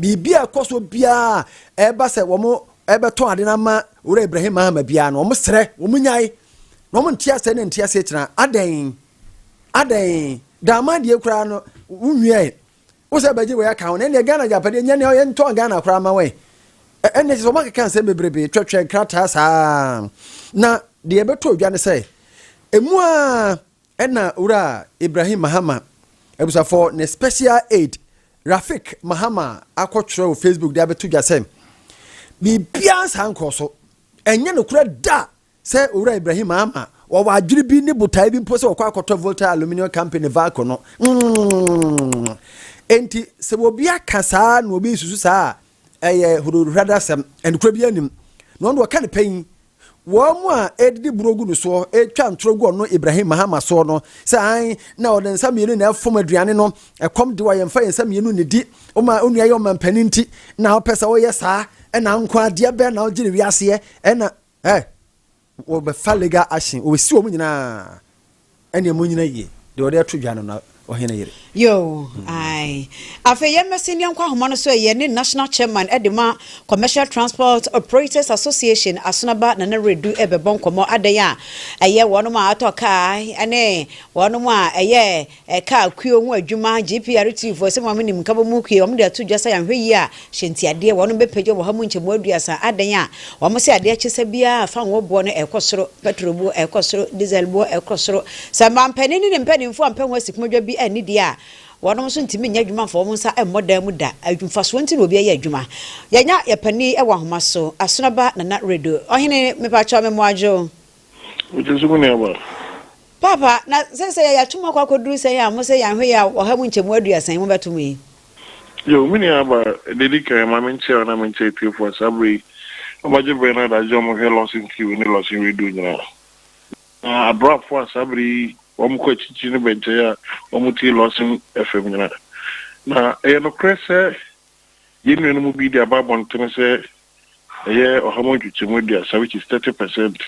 Speaker 1: Biribi a ɛkɔ so biara a ɛba sɛ wɔbɛtɔn ade no ama Owura Ibrahim Mahama biara no, wɔsrɛ, wɔnyae, na wɔnte aseɛ ne nte aseɛ tena. Adɛn? Adɛn? Daamaa deɛ koraa no, wonwiae. Wo sɛ bɛgye wei aka ho na ɛneɛ Ghana agyapadeɛ nyɛ neɛ yɛntɔn Ghana koraa ma wɛn ɛneɛ kyɛ sɛ wɔakeka nsɛm bebrebe twɛtwɛ nkrataa saa na deɛ ɛbɛtɔ dwa ne sɛ ɛmu a ɛna wura Ibrahim Mahama abusafɔɔ ne special aid Rafik Mahama akɔtwerɛ wɔ Facebook de abɛto dwa sɛ biribiara nsaa nkɔɔ so ɛnyɛ nokorɛ da Sɛ Owura Ibrahim Ama wɔwɔ adwene bi ne botae bi mpo sɛ wɔkɔ akɔtɔ Volta Aluminium Company Valco no. Enti sɛ obi aka saa na obi nsusu saa a, ɛyɛ hodohradasɛm, ɛnokorɛ bi anim. Na ɔno ɔka ne pɛ yi, wɔn mu a ɛdidi buro gu no soɔ, ɛtwa ntorɔ gu ɔno Ibrahim Mahama soɔ no, sɛ ae na ɔde nsa mmienu na ɛfom aduane no, ɛkɔm de wo a yɛmfa yɛn nsa mmienu nidi, woma wo nua yɛ ɔmampanin nti na wopɛ sɛ woyɛ saa, ɛna nkoa deɛ bɛn na wogye no wiaseɛ, ɛna. Ɛ, wɔ bɛ fa legal action, wɔ bɛ si wɔn nyinaa, ɛ neɛ mo nyina yie, deɛ wɔde ato dwa no na ɔhene yere. Yoo, ae. Afei yɛn mɛ senior nkɔ ahoma no so ɛ, yɛn ne national chairman ɛ de ma Commercial Transport Operators Association, Asonaba Nana Redu ɛ bɛ bɔ nkɔmɔ adɛn a ɛyɛ wɔnom a atɔ kaa ɛ ne wɔnom a ɛyɛ Ɛkaa kuo ho adwuma, GPRTfoɔ sɛ wɔn a wɔnim nkabom ho kuo, wɔde ato dwa sɛ yɛanhwɛ yie a, hyɛ ntiadeɛ, wɔnom bɛpagya wɔ ha mu nkyɛmu aduasa, adɛn a, wɔn se adeɛ akyesa biara a fanwoɔ boɔ no ɛrekɔ soro, pɛtro boɔ ɛrekɔ soro, diesel boɔ ɛrekɔ soro, sɛ mampanin ne ne mpaninfoɔ ampɛ ho asikomodwa bi anni deɛ a, wɔnom nso ntumi nyɛ adwuma mfa wɔn nsa mmɔ dan mu da, mfasoɔ nti na obi ɛyɛ adwuma. Yɛanya yɛn panin wɔ ahoma so, Asonaba Nana Redo. Ɔhene, mepakyɛw me mmoa dwo. Mete so, me nuabaa. Paapa, na seesei yɛatum akɔ akɔduru sɛn a mose yɛanhwɛ yi a ɔha mu nkyɛmu aduasa yi mobɛto me yi? Yiw, me nuabaa, nea edi kan, ma menkyea wo na menkyea atiefo a saa bere yi wɔagye bere ne adagyew a wɔhwɛ Lawson TV ne Lawson Radio nyinaa. Na abrafo a saa bere yi wɔkɔ akyirikyiri ne bɛnkyɛe a wɔtie Lawson FM nyinaa. Na ɛyɛ nokorɛ sɛ. Yɛn nua no mu bi de aba abɔnten sɛ ɛyɛ ɔha mu nkyekyɛmu aduasa, which is thirty percent.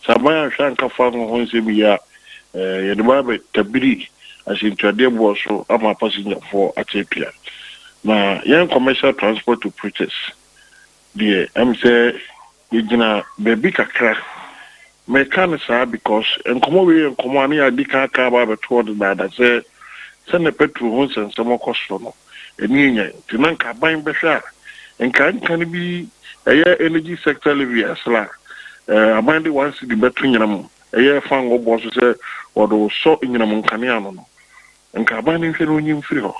Speaker 1: Sɛ aban anhwɛ ankafa ngo ho nsɛm yi a, yɛde bɛba abɛtabiri asɛntuadeɛ boɔ so ama pasengyafoɔ ate apia. Na yɛn commercial transport operators deɛ, ɛm sɛ. Yɛgyina baabi kakra. Mereka no saa because nkɔmmɔ wei yɛ nkɔmmɔ a na yɛadi kan aka aba abɛto hɔ dedaada sɛ sɛnea Petro ho nsɛnsɛm rekɔ soro no, ani renya yɛn. Nti na nka aban bɛhwɛ a, nka ɛnka no bi ɛyɛ energy sector levy a ɛsra a, ɛɛ, aban de one cedi bɛto nyinam ɛyɛ fangoo boɔ so sɛ wɔde resɔ nyinam nkanea ano no, nka aban no nhwɛ na ɔnyi mfiri hɔ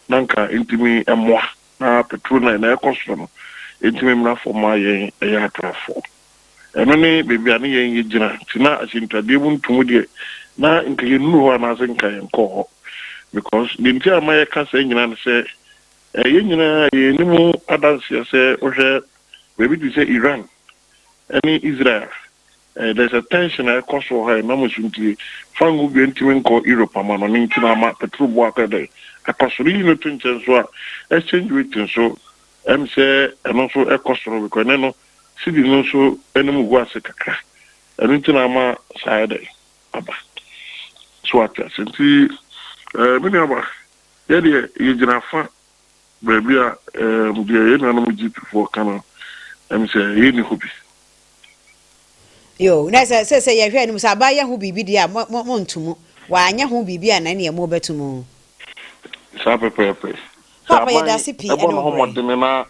Speaker 1: na nka ɛntumi mmoa. Na petro na na ɛkɔ soro no ntumi mmra fam mma yɛn ɛyɛ atrafoɔ. Ɛno ne baabi a ne yɛn yɛ gyina. Nti na ahyɛntuadeɛ mu nto mu deɛ na nka yɛn nnuru hɔ anaase nka yɛn nkɔ hɔ. Because deɛ nti a mma yɛka saa nyinaa ne sɛ ɛɛ yɛn nyinaa yɛn ani mu adanseɛ sɛ wohwɛ baabi te sɛ Iran ɛne Israel There is a tension a ɛkɔ so wɔ ha ɛnam nsu nti Fango Bia ntumi nkɔ Europe ama no ne nti na ama petrol bo akɔ dɛn akɔ soro yiyi no to nkyɛn nso a exchange rate nso ɛm sɛ ɛno nso ɛkɔ soro because ɛnɛ no cedi no nso anim gu ase kakra ɛno nti na ama saa ayɛ dɛn aba so ate ase nti ɛɛ me nua ba yɛdeɛ yɛgyina fa baabi a ɛɛm deɛ yɛn nuanom Egyptfoɔ ka no ɛm sɛ ɛyɛ ni hɔ bi. Yoo, na sɛ sɛ sɛ yɛhwɛ anim sɛ abaa yɛ ho biribi deɛ a mo mo mo nto mu. Wanyɛ ho biribi a na ɛneɛ mo bɛto mu. Saa pɛpɛɛpɛ. Sɛ Paapa aban yɛdase pii ɛbɔ ɛne ne wo ho brɛ. mmɔdene na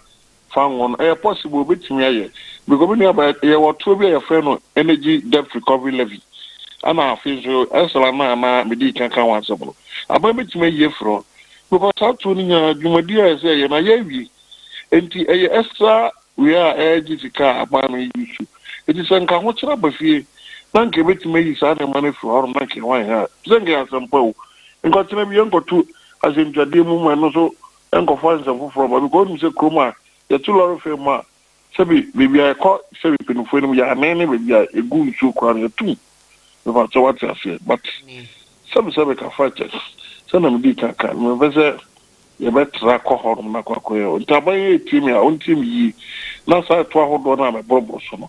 Speaker 1: fa ngo no, ɛyɛ possible, obetumi ayɛ, because me nua baa, yɛwɔ ɔtoɔ bi a yɛfrɛ no energy debt recovery levy, ɛna afei nso ɛsra no a na mede kan ka ho asɛm no, aban betumi ayi afiri hɔ, because saa tuo no nyinaa dwumadi a ɛsɛ sɛ ɛyɛ no ayɛ awie, enti ɛyɛ ɛsra wia a ɛregye sika a aban no yi su, enti sɛ nka ahokyere aba fie na nka ebetumi ayi saa nneɛma no afiri hɔ nom na nka ɛho ayɛ hare, sɛ nka ɛyɛ asɛm pa o, nka ɔkyena bi yɛnkɔto asɛntwadeɛ mu ma ɛno nso Nkɔfa nsɛm foforɔ mma because wonim sɛ kurom a yɛto lɔre fare mu a sɛbi baabi a yɛkɔ sɛbi mpanimfoɔ anim yɛ anen ne baabi a yɛgu nsuo koraa no yɛtom mepakyɛ woate aseɛ but sɛbi sɛbi ka fa kyɛ sɛdeɛ medii ka ka no mempɛ sɛ yɛbɛtra kɔ hɔ nom na kɔ akɔyɛ ntaban yi ɛtie me a ɔntie me yie na saa ɛto ahodoɔ no a meboroboro so no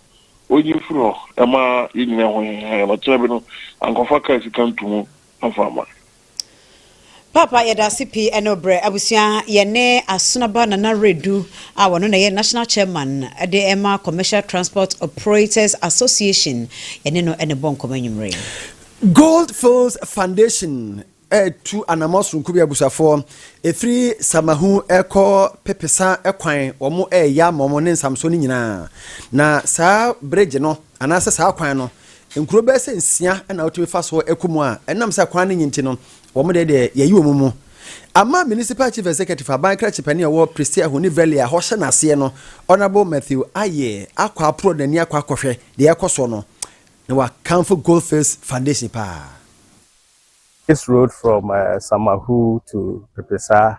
Speaker 1: ɔnyi mfiri hɔ ɛma yɛnyina ɛho hehe na kyerɛ bi no ankɔfa kaa sika nto mu amfa ama Paapa yɛdase pii ɛne wo berɛ. Abusua yɛne Asonaba Nana Redu a ɔno na ɛyɛ National Chairman de ɛma Commercial Transport Operators Association yɛne no ɛne bɔ nkɔmɔ anwumerɛ yi. Gold Fields Foundation retu anamɔ sononko bi abusuafoɔ ɛfiri Samahu ɛrekɔ Pepesa kwan wɔn reyɛ ama wɔn ne Nsamsoɔ no nyinaa na saa bridge no anaasɛ saa kwan no Nkuro bɛyɛ sɛ nsia na wotumi fa so kɔ mu a ɛnam sɛ kwan no nye nti no, wɔn deɛ deɛ yɛyi wɔn mu. Amman Municipal Chief Executive, Aban Kra Kyipani a ɛwɔ Prestea ho ne Valley a ɛhɔ hyɛ n'aseɛ no, Honourable Matthew Ayie akɔ aporɔ n'ani akɔ akɔhwɛ deɛ ɛrekɔ soɔ no, na wakamfo Goldfields Foundation paa. This road from Samahu to Pepesaa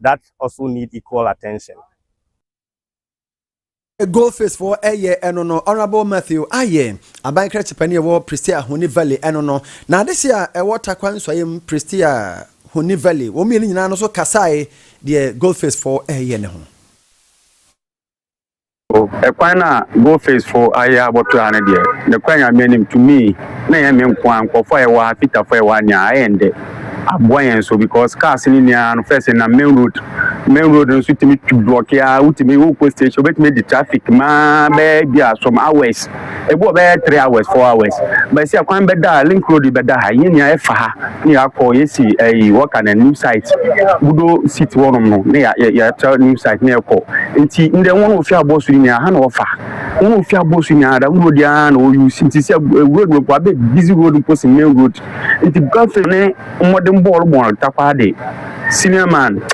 Speaker 1: that also need equal attention. Gold face fo ɛyɛ ɛno no honourable matthew ayɛ aban krakye panin ɛwɔ prestea honi valley ɛno no na adehye a ɛwɔ takwa nsɔeɛ mu prestea honi valley wɔn mmienu nyinaa no so kasae deɛ gold face fo ɛyɛ ne ho So kwan no a Goldfacefo ayɛ a wɔtoa ha no deɛ, nokorɛ Nyame anim, to me, na ɛnyɛ me nko ara, nkorɔfoɔ a yɛwɔ ha, Fitafo a yɛwɔ ha nyinaa, ayɛ ndɛ aboa yɛn nso because cars no nni ara no, first ɛnam main road, main road no nso tumi twi blɔke ara, wotumi, wokɔ station, wobɛtumi adi traffic maa bɛyɛ ebi a some hours. Ebi wɔ bɛyɛ three hours four hours but sɛ kwan bɛ da link road yi bɛ da ha yɛ nua ɛfa ha ne yɛ akɔ yɛ si ɛyi wɔka na new site gudo seat wɔ nom no ne yɛ yɛ tra new site ne yɛ kɔ nti ndɛ wɔn ofi abɔ so yi nua ha na ɔfa wɔn ofi abɔ so nua adam road aa na ɔyu si nti sɛ eh, road mpo abɛ busy road mpo si main road nti gafe ne mmɔden bɔɔl bɔɔl takwa de senior man.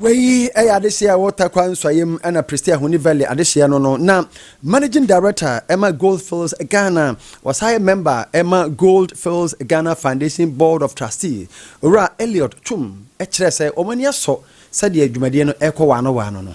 Speaker 1: Wei yɛ adehyeɛ a ɛwɔ Tarkwa nsuaeɛ mu ɛna Prestea Huni Valley adehyeɛ no no na Managing Director ɛma Gold Fields Ghana wɔsan yɛ member ɛma Gold Fields Ghana Foundation Board of Trustee Owura Elliot Twum kyerɛɛ sɛ wɔn ani asɔ sɛdeɛ dwumadie no ɛrekɔ waano waano no.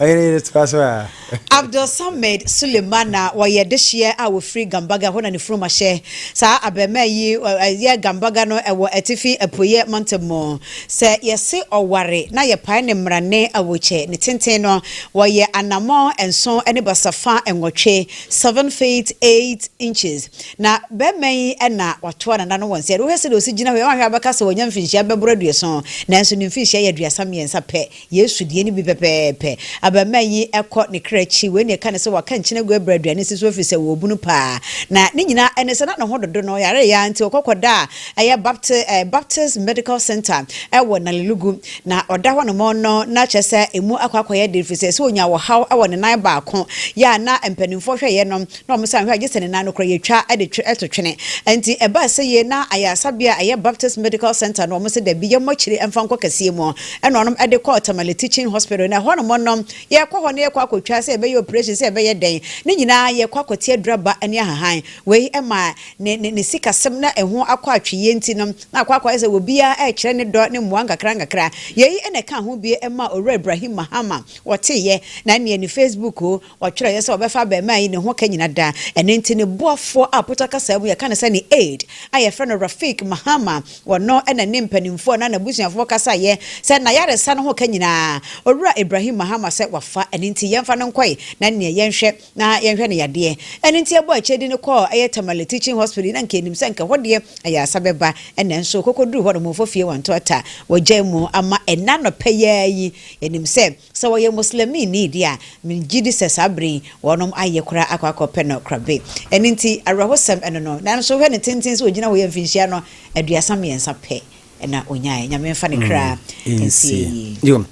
Speaker 1: Ɔhene yere toa so a. Abdulsamad Suleiman na wɔyɛ dehyeɛ a ɔfiri Gambaga, ɛhɔ na ne funuma hyɛ. Saa abarimaa yi yɛ Gambaga no wɔ atifi apueɛ mantam mu. Sɛ yɛse ɔware na yɛpae ne mmarane awokyɛ, ne tenten no, wɔyɛ anammɔn nson ne basafa nwɔtwe, seven feet eight inches. Na barima yi na watoa nana no wɔ nsa. Wohwɛ sɛdeɛ ɔsi gyina hɔ yi, woanhwɛ a wobɛka sɛ wanya mfinhyia bɛboro aduoson, nanso ne mfinhyia yɛ aduasa mmiɛnsa pɛ. Yesu deɛ no bi pɛpɛɛpɛ. Abarimaa yi kɔ ne kra akyi. Wei na ɛka no sɛ waka nkyene agu abura aduane ase so ɛfiri sɛ ɔwɔ bunu paa. Na ne nyinaa ne sɛ na ne ho dodo no ɔyareeɛ ara nti ɔkɔ kɔdaa ɛyɛ Bapti, eh, Baptist Medical Centre ɛwɔ Nalelugu. Na ɔda hɔ nom no na kyerɛ sɛ ɛmu akɔ akɔyɛ den ɛfiri sɛ ɛsɛ ɔnya ɔhaw wɔ ne nan baako. Yɛ a na mpanimfoɔ hwɛeɛ no na wɔsan hwɛ a, gye sɛ ne nan no koraa yɛtwa de twe to twene. Enti ɛbaa sɛ yei na ayaresabea a ɛyɛ Baptist Medical Centre no, wɔse dabi, yɛmmɔ akyire mfa nkɔ kɛseɛ mu. Ɛna wɔnom de kɔɔ Tamale Teaching Hospital. Na ɛhɔ nom no, yɛkɔ hɔ na yɛkɔ akɔtwa, sɛ yɛbɛyɛ operation, sɛ yɛbɛyɛ dɛn, ne nyinaa yɛkɔ akɔte aduraba ne ahahan. Wei ma ne, ne, ne sikasɛm na ɛho akɔ atweyeɛ nti no, na akɔ akɔyɛ sɛ obiara rekyerɛ ne dɔ ne mmoa nkakra nkakra. Yei na ɛkaa ho bie maa Owura Ibrahim Mahama, wɔteeɛ, na ɛneɛ ne Facebook, Ɔtwerɛeɛ sɛ wɔbɛfa abarimaa yi ne ho ka nyina daa. Ɛno nti ne boafoɔ a Puta kasaa mu yɛka no sɛ ne aide a yɛfrɛ no Rafiq Mahama, ɔno na ne mpanimfoɔ anaa n'abusuafoɔ kasaeɛ sɛ n'ayaresa no ho ka nyinaa Owura Ibrahim Mahama sɛ wafa, ɛno nti yɛmfa no nkɔe na ɛnneɛ yɛnhwɛ na yɛnhwɛ no yadeɛ. Ɛno nti yɛbɔɔ akyire de no kɔɔ ɛyɛ Tamale Teaching Hospital yi na nka yɛnim sɛ nka ɛhɔ deɛ ayaresa bɛba nanso ɔkɔkɔduruu hɔ no wɔmfa fie wɔnto ata wɔgyae mu ama ɛnnɛ anɔpɛ yi ara yi yɛnim sɛ Sɛ ɔyɛ Muslimini deɛ a, megye di sɛ saa berɛ yi wɔnom ayɛ koraa akɔ akɔpɛ no korabe. Ɛno nti, awerɛhosɛm ɛno no. Nanso hwɛ ne tenten sɛ ɔgyina hɔ yi a mfinhyia no aduasa mmiɛnsa pɛ na ɔnyaeɛ. Nyame mfa ne kra nsie yie.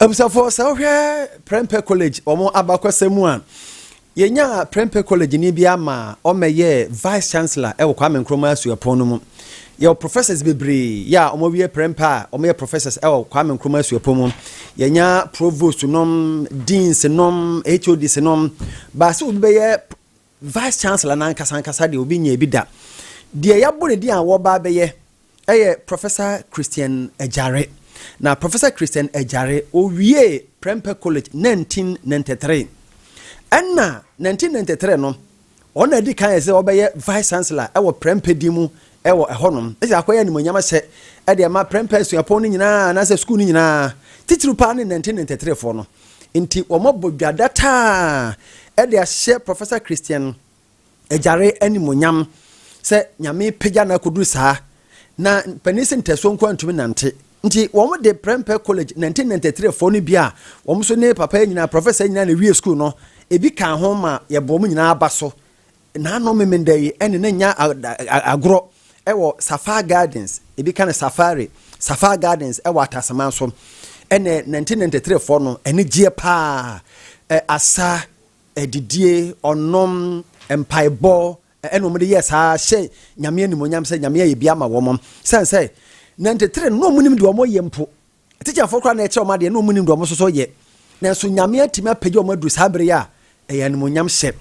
Speaker 1: Abusuafoɔ, sɛ wohwɛ Prempeh College wɔn abakɔsɛm mu a, Yɛnyaa prɛmpɛ kɔlɛgyeni bi ara maa ɔmmɛyɛɛ Vice Chancellor wɔ Kwame Nkrumah Suapɔn no mu. Yɛwɔ professors bebree yɛ a wɔawie prɛmpɛ a wɔyɛ professors wɔ Kwame Nkrumah Suapɔn mu. Yɛanya provosts nom, deans nom, HODs nom. But sɛ obi bɛyɛ Vice Chancellor no ankasa ankasa deɛ, obi nyɛɛ bi da. Deɛ yɛabɔ no din a wɔreba abɛyɛ Ɛyɛ Professor Christian Agyare. Na Professor Christian Agyare, ɔwiee Prempeh College nineteen ninety three. Ɛna nineteen ninety three no, ɔno na ɛdi kan ɛsɛ ɔbɛyɛ Vice Chancellor ɛwɔ Prempeh din mu ɛwɔ ɛhɔ nom. Ɛsɛ akɔyɛ animuonyam ahyɛ ɛde ɛma Prempeh asuapɔn no nyinaa anaasɛ sukuu no nyinaa, titiriw paa ne nineteen ninety three foɔ no. Nti wɔabɔ dwa dataa ɛde ahyɛ Professor Christian agyare animuonyam sɛ nyame pagya no akɔduru saa na panin sɛ ntɛsoɔ nko antumi nante nti wɔn de prɛmpɛ college 1993 foɔ no bi a wɔn nso ne papa yɛ nyinaa professor nyinaa na ewie school no ebi kaa ho ma yɛbɔ wɔn nyinaa aba so naano memenda yi ɛne na nya agorɔ ɛwɔ safar gardens ebi ka no safari safar gardens ɛwɔ atasaman so ɛne 1993 foɔ no ɛne gyeɛ paa ɛ asa adidie, ɔnom, mpaebɔ, ɛna wɔn de yɛ saa hyɛ nyame animonyam sɛ nyame ayɛ bi ama wɔn sɛn sɛ na ntetere no na wɔn nim deɛ wɔn yɛ mpo tikyafoɔ koraa na ɛkyerɛ wɔn adeɛ na wɔn nim deɛ wɔn nso yɛ nanso nyame atumi apagya wɔn aduru saa bere a ɛyɛ animonyam hyɛ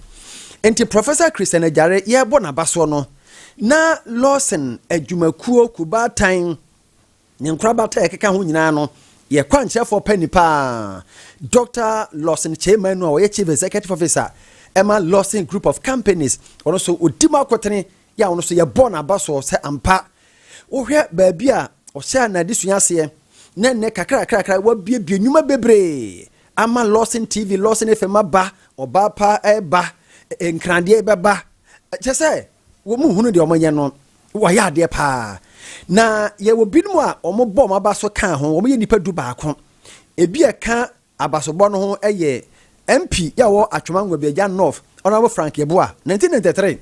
Speaker 1: nti Professor Christian Agyare yɛrebɔ n'abasoɔ no na Lawson adwumakuo kubaatan Ne nkorabata a ɛkeka ho nyinaa no yɛ kwankyerɛfoɔ panyin pa ara, Doctor Lawson Kyei Manu a ɔyɛ Chief Executive Officer ɛma Lawson Group of Companies. Ɔno nso ɔdi mu akotene yɛ a ɔno nso yɛbɔ n'abasoɔ sɛ ampa wohwɛ baabi a ɔhyɛ n'adesua aseɛ na nnɛ kakrakrakra wabiebie nnwuma bebree ama Lawson TV, Lawson FM aba, ɔbaa pa ɛreba, nkradeɛ bɛba, kyɛ sɛ wɔn mu hunu deɛ wɔyɛ no. Wɔyɛ adeɛ paa. Na yɛwɔ binom a wɔbɔ wɔn aba so kaa ho, wɔyɛ nnipa du baako. Ebi a ɛka abasobɔ no ho yɛ MP yi a ɔwɔ Atwom Angoa bi, Agya North, Honourable Frank Yeboah, 1993.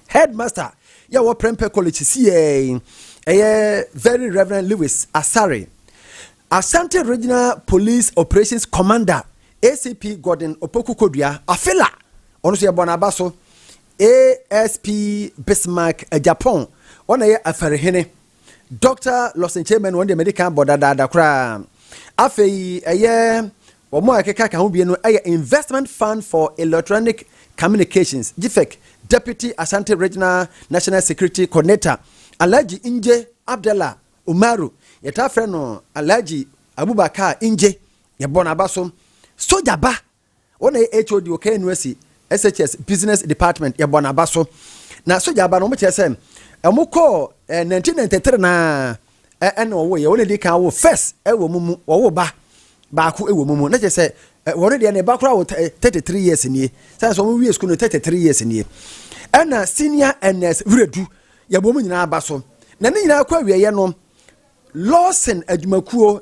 Speaker 1: Headmaster yi a ɔwɔ Prempeh College sisiiɛ yi, ɛyɛ Very Reverend Lewis Asare. Asante Regional Police Operations Commander, ACP Gordon Opoku Kodua, Afela, ɔno nso yɛbɔ no aba so. ASP Bismarck Agyapong, ɔna ɛyɛ Afarihene. Dɔkta Lawson Chairman, wɔn deɛ mede kan bɔ dadaada koraa. Afei ɛyɛ wɔn a ɛkeka ka ho bie no ɛyɛ Investment Fund for Electronic Communications, GIFEC, Deputy Ashanti Regional National Security Coordinator, Alhaji Ingye Abdallah Umaru, yɛtaa frɛ no Alhaji Abubakar Ingye, yɛbɔ n'aba so. Sogya ba! Wɔn na ɛyɛ HOD wɔ KNUST SHS Business Department. Yɛbɔ no aba so. Na sogya aba no, wɔkyerɛ sɛ wɔkɔɔ eh, 1993 no a eh, ɛna wɔwoeɛ. Wɔn na ɛdi kan wo first eh, wɔ mu mu, wɔwo ba baako eh, wɔ mu mu. Na kyerɛ sɛ eh, wɔn deɛ ne ba koraa wɔ eh, 33 years nie. Sane sɛ wɔwie sukuu no 33 years nie. Ɛna senior NS Wiredu, yɛbɔ mu nyinaa aba so. Na ne nyinaa kɔ awieeɛ no, Lawson adwumakuo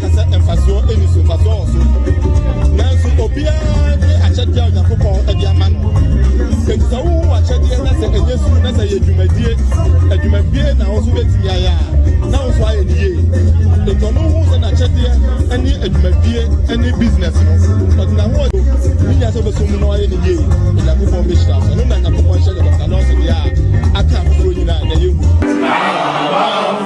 Speaker 1: ka sɛ mfasoɔ nni so mfasoɔ wɔ so nanso obiara ne akyɛdeɛ a onyankopɔn de ama no enti sɛ wowo akyɛdeɛ na sɛ ɛnyɛ suru na sɛ yɛ dwumadie adwumadie na wo nso bɛtumi ayɛ a na wo nso ayɛ ne yie enti ɔno hu sɛ n'akyɛdeɛ ne adwumadie ne business no ɔde na ho ne nya sɛ wobɛsɔ mu na ɔyɛ ne yie onyankopɔn bɛhyira so ɛno na nyankopɔn hyɛ ne dɔkta nɔɔse deɛ a aka afoforɔ nyinaa na yɛhu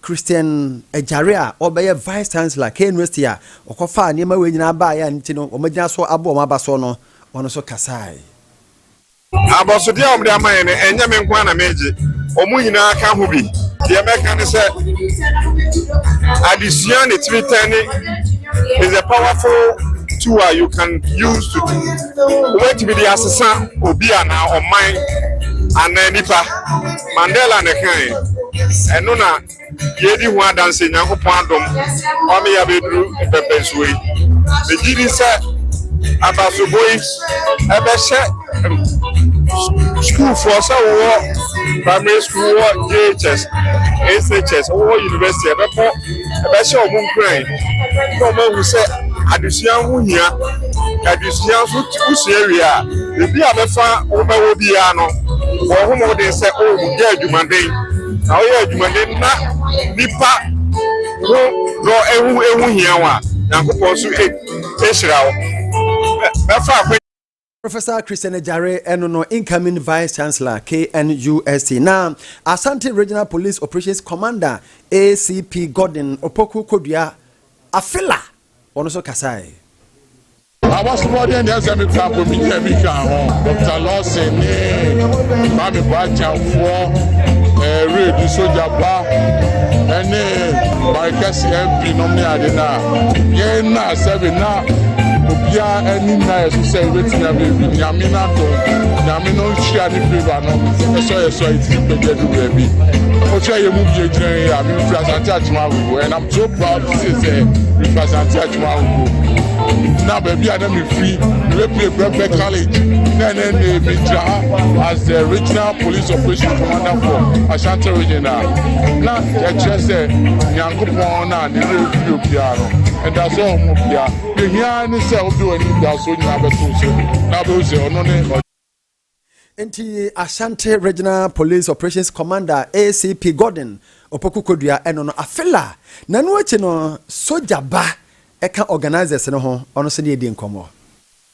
Speaker 1: Christian Agyare a ɔrebɛyɛ Vice Chancellor KNUST a ɔkɔfaa nneɛma wei nyinaa baeɛ a ɛno nti no wɔagyina so abu wɔn aba so no, ɔno nso kasae. Abɔsodeɛ a wɔde ama yɛn no, ɛnyɛ me nko ara na meregye, wɔn nyinaa ka ho bi. Deɛ mɛka ne sɛ, adesua ne tiri tɛne is a powerful tool a you can use to wobɛtumi de asesa obi anaa ɔman anaa nipa. Mandela na ɛkae. Ɛno na yɛredi ho adanse, Nyankopɔn adom wama yɛabɛduru mpɛmpɛnsoɔ yi. Megye di sɛ abasobɔ yi ɛbɛhyɛ sukuufoɔ sɛ wowɔ primary school, wowɔ JHS, SHS, wowɔ university ɛbɛbɔ ɛbɛhyɛ wɔn nkuran na wɔn ahu sɛ adesua ho hia adesua nso wosua wie a ebi a bɛfa wɔma wɔ biara no wɔn ho wɔn den sɛ o oh, yɛ adwumaden na wɔyɛ adwumaden na nipa ho dɔ ehu ehu hia wɔn a nyankopɔn nso ehyira wɔn bɛfa akɔ. Professor Christian Agyare, ɛno no incoming Vice Chancellor KNUST, na Asante Regional Police Operations Commander ACP Gordon Opoku Kodua Afila, wɔn nso kasae. Abɔsomɔden deɛ sɛ me kura bomi deɛ me ka ho Dr. Lawson ne Mame Boakyanfoɔ ɛɛ Redu Sogya Ba ɛne Marikɛse MP nom ne ade no a yɛn na sɛbi na obiara ani na yɛ so sɛ ebetumi abɛbi nyame na dɔn nyame no nhyia ne favour no ɛsɔ yɛ sɔ eti pɛgɛ do baabi ɔkyɛ yɛ mu bie gyina yɛ a mi nfiri asante atwuma agogo and i'm so proud to say sɛ mi nfiri asante atwuma agogo na baabi a na mi firi mi bɛ pie brɛbrɛ college na ɛnɛ ɛnɛ mi gyina ha as the regional police operation commander for ashanti region na na yɛ kyerɛ sɛ nyame. Nyankopɔn no a ne werɛ mfiri obiara no, ɛda so wɔ mo bea. Nea ehia ara ne sɛ wode w'anidaso nyinaa bɛto no so, na wobɛhu sɛ ɔno ne. Enti Ashanti Regional Police Operations Commander, ACP Gordon Opoku Kodua ɛno no Afela na ɛno akyi no Sogya ba ɛka organisers no ho ɔno nso ne yɛdii nkɔmmɔ.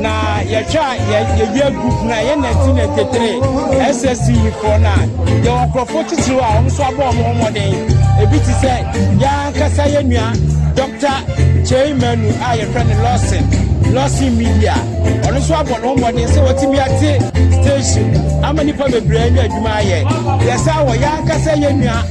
Speaker 1: Na yɛhwɛ a yɛwie group na yɛ na ti na tetere SSC foɔ no a yɛwɔ nkurɔfoɔ titiriw a wɔn nso abɔ wɔn ho mmɔden ebi te sɛ yɛn ankasa yɛ nua Dr. Kyei Manu a yɛfrɛ no Lawson Lawson Media ɔno nso abɔ ne ho mmɔden sɛ wɔtumi ate station ama nipa bebree anya adwuma ayɛ yɛsa wɔ yɛn ankasa yɛ nua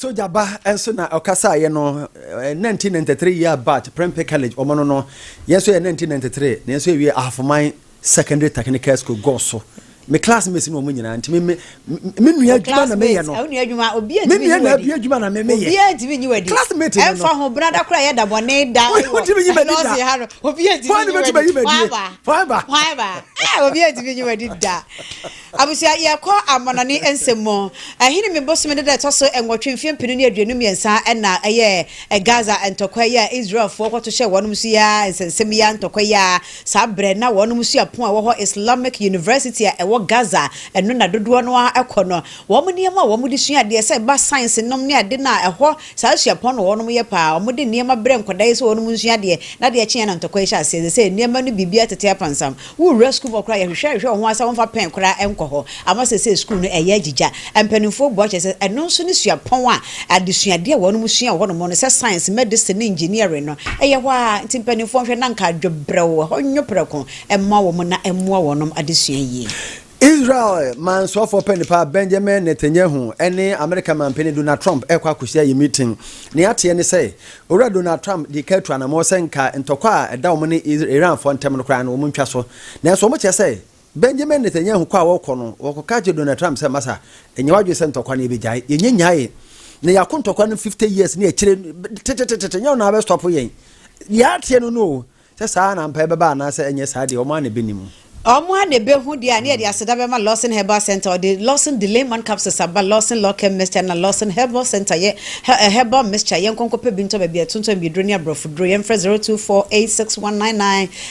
Speaker 1: Sogya ba nso na ɔkasaeɛ no 1993 year batch Prempeh College wɔn no no yɛn nso yɛ 1993 na yɛn nso yɛwie Ahofoman Secondary Technical School gɔɔ so me classmates no wɔn nyinaa nti me me me nua adwuma na meyɛ no me nua na abie adwuma na me meyɛ classmate no ɛnfa ho brada kora yɛ da bɔne da wotumi nyi madi da ha no obi atumi nyi madi forever forever obi atumi nyi madi da Abusua, Yɛkɔ amannɔne nsɛm mu. Ahinime bosome no da a ɛtɔ so nwɔtwe mfeɛ mpenu ne aduonu mmiɛnsa na ɛyɛɛ Gaza ntɔkwa yi a Israelfoɔ kɔto hyɛɛ wɔnom so yi ara nsɛnsɛm yi ara ntɔkwa yi ara saa berɛ na wɔnom suapɔn a ɛwɔ hɔ Islamic University a ɛwɔ Gaza ɛno na dodoɔ no ara kɔ no wɔn nneɛma a wɔn de sua adeɛ sɛ ɛba science nom ne ade no a ɛhɔ saa suapɔn no wɔnom yɛ paa wɔn de nneɛma brɛ nkwadaa yi sɛ wɔnom nsua adeɛ na adeɛ kyeeɛ na ntɔkwa yi hyɛ aseɛ ɛsɛ sɛ nneɛma no biribiara tete apansam Wowura sukuu mu hɔ koraa a, yɛhwehwɛ hwehwɛ wɔn ase a wɔmfa pɛn koraa nkɔ hɔ. Ama seesei sukuu no ɛyɛ agyigya. Mpanimfoɔ bua kyerɛ sɛ, ɛno nso ne suapɔn a adesuadeɛ a wɔnom sua wɔ hɔnom no sɛ science, medicine ne engineering no ɛyɛ hɔ ara nti mpanimfoɔ nhwɛ na anka adwo brɛoo, ɛhɔ nwo prɛko mma wɔn na ɛmmoa wɔnom adesua yie. Israel mansoɔfoɔ pɛni pa Benjamin Netanyahu ne Amerika manpɛni Donald Trump rekɔ akɔsi ayɛ meeting. Nea ateɛ ne sɛ, Owura Donald Trump dii kan atu anammɔn sɛ nka ntɔkwa a ɛda wɔn ne Iranfoɔ ntam no koraa no wɔn ntwa so. Nanso wɔn kyerɛ sɛ Benjamin Netanyahu kɔ a wɔkɔ no, wɔkɔka kyerɛ Donald Trump sɛ masa, nyɛ w'adwene sɛ ntɔkwa no yɛbɛgyae. Yɛnyɛ nyae. Na yɛako ntɔkwa no 50 years ne akyire tetetetete, nyɛ wo na wobɛ stop yɛn. Deɛ ateɛ no no o. Sɛ saa ara na ampa ɛbɛba anaasɛ ɛnyɛ saa deɛ, wɔn ara na ɛbɛnim. Wɔn ara na ɛbɛhu deɛ a na yɛde aseda bɛma Lawson Herbal Centre. Wɔde Lawson Delay-Man Capsules aba, Lawson Locare Mixture na Lawson Herbal Centre yɛ he herbal mixture. Yɛnkɔ nkɔpɛ bi ntɔ baabi a yɛtontɔn abiyeduro ne aborɔfo duro. Yɛmfrɛ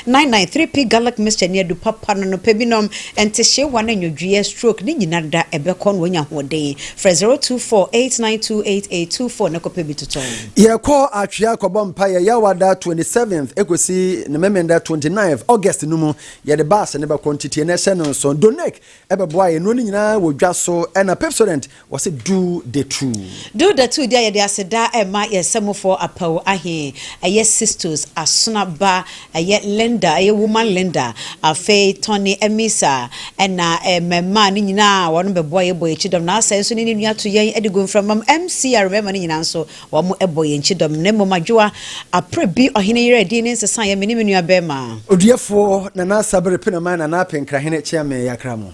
Speaker 1: 0248619999. 3P Garlic Mixture ne adu pa pa no anɔpa bi nom. Ntehyeewa ne nnwodwoeɛ, stroke, ne nyinareda ɛbɛkɔ na woanya ahoɔden. Frɛ 0248928824 na kɔpɛ bi totɔ. Yɛkɔ atwea kɔbɔ mpaeɛ Yawada 27th ɛkɔsi ne Memenda 29th August no mu. Yɛde bus ne bɛkɔ nteteɛ no ɛhyɛ no nso. Donek ɛbɛboa yɛn. Nnuro no nyinaa wɔ dwa so ɛna Pepsodent wɔse do the two. Do the two deɛ yɛde aseda ɛma yɛn sɛmofoɔ Apawu Ahe ɛyɛ Sistos Asona ba Ɛyɛ Linda, ɛyɛ Woman Linda, afei Tony Amisa, ɛna mmɛmaa no nyinaa wɔn bɛboa yɛn bɔ yɛn kyidɔm, na asɛɛ nso ne ne nua to yɛn de gu mframa mu, MCR mmɛma no nyinaa nso wɔn bɔ yɛn kyidɔm, na mmom Adwoa Aprɛ bi ɔhene yere din ne nsesaeɛ me ne me nua bɛɛma. Oduɛfoɔ Nana Asabere Penamai Nana Apenkrahene Kyeame Yakramo.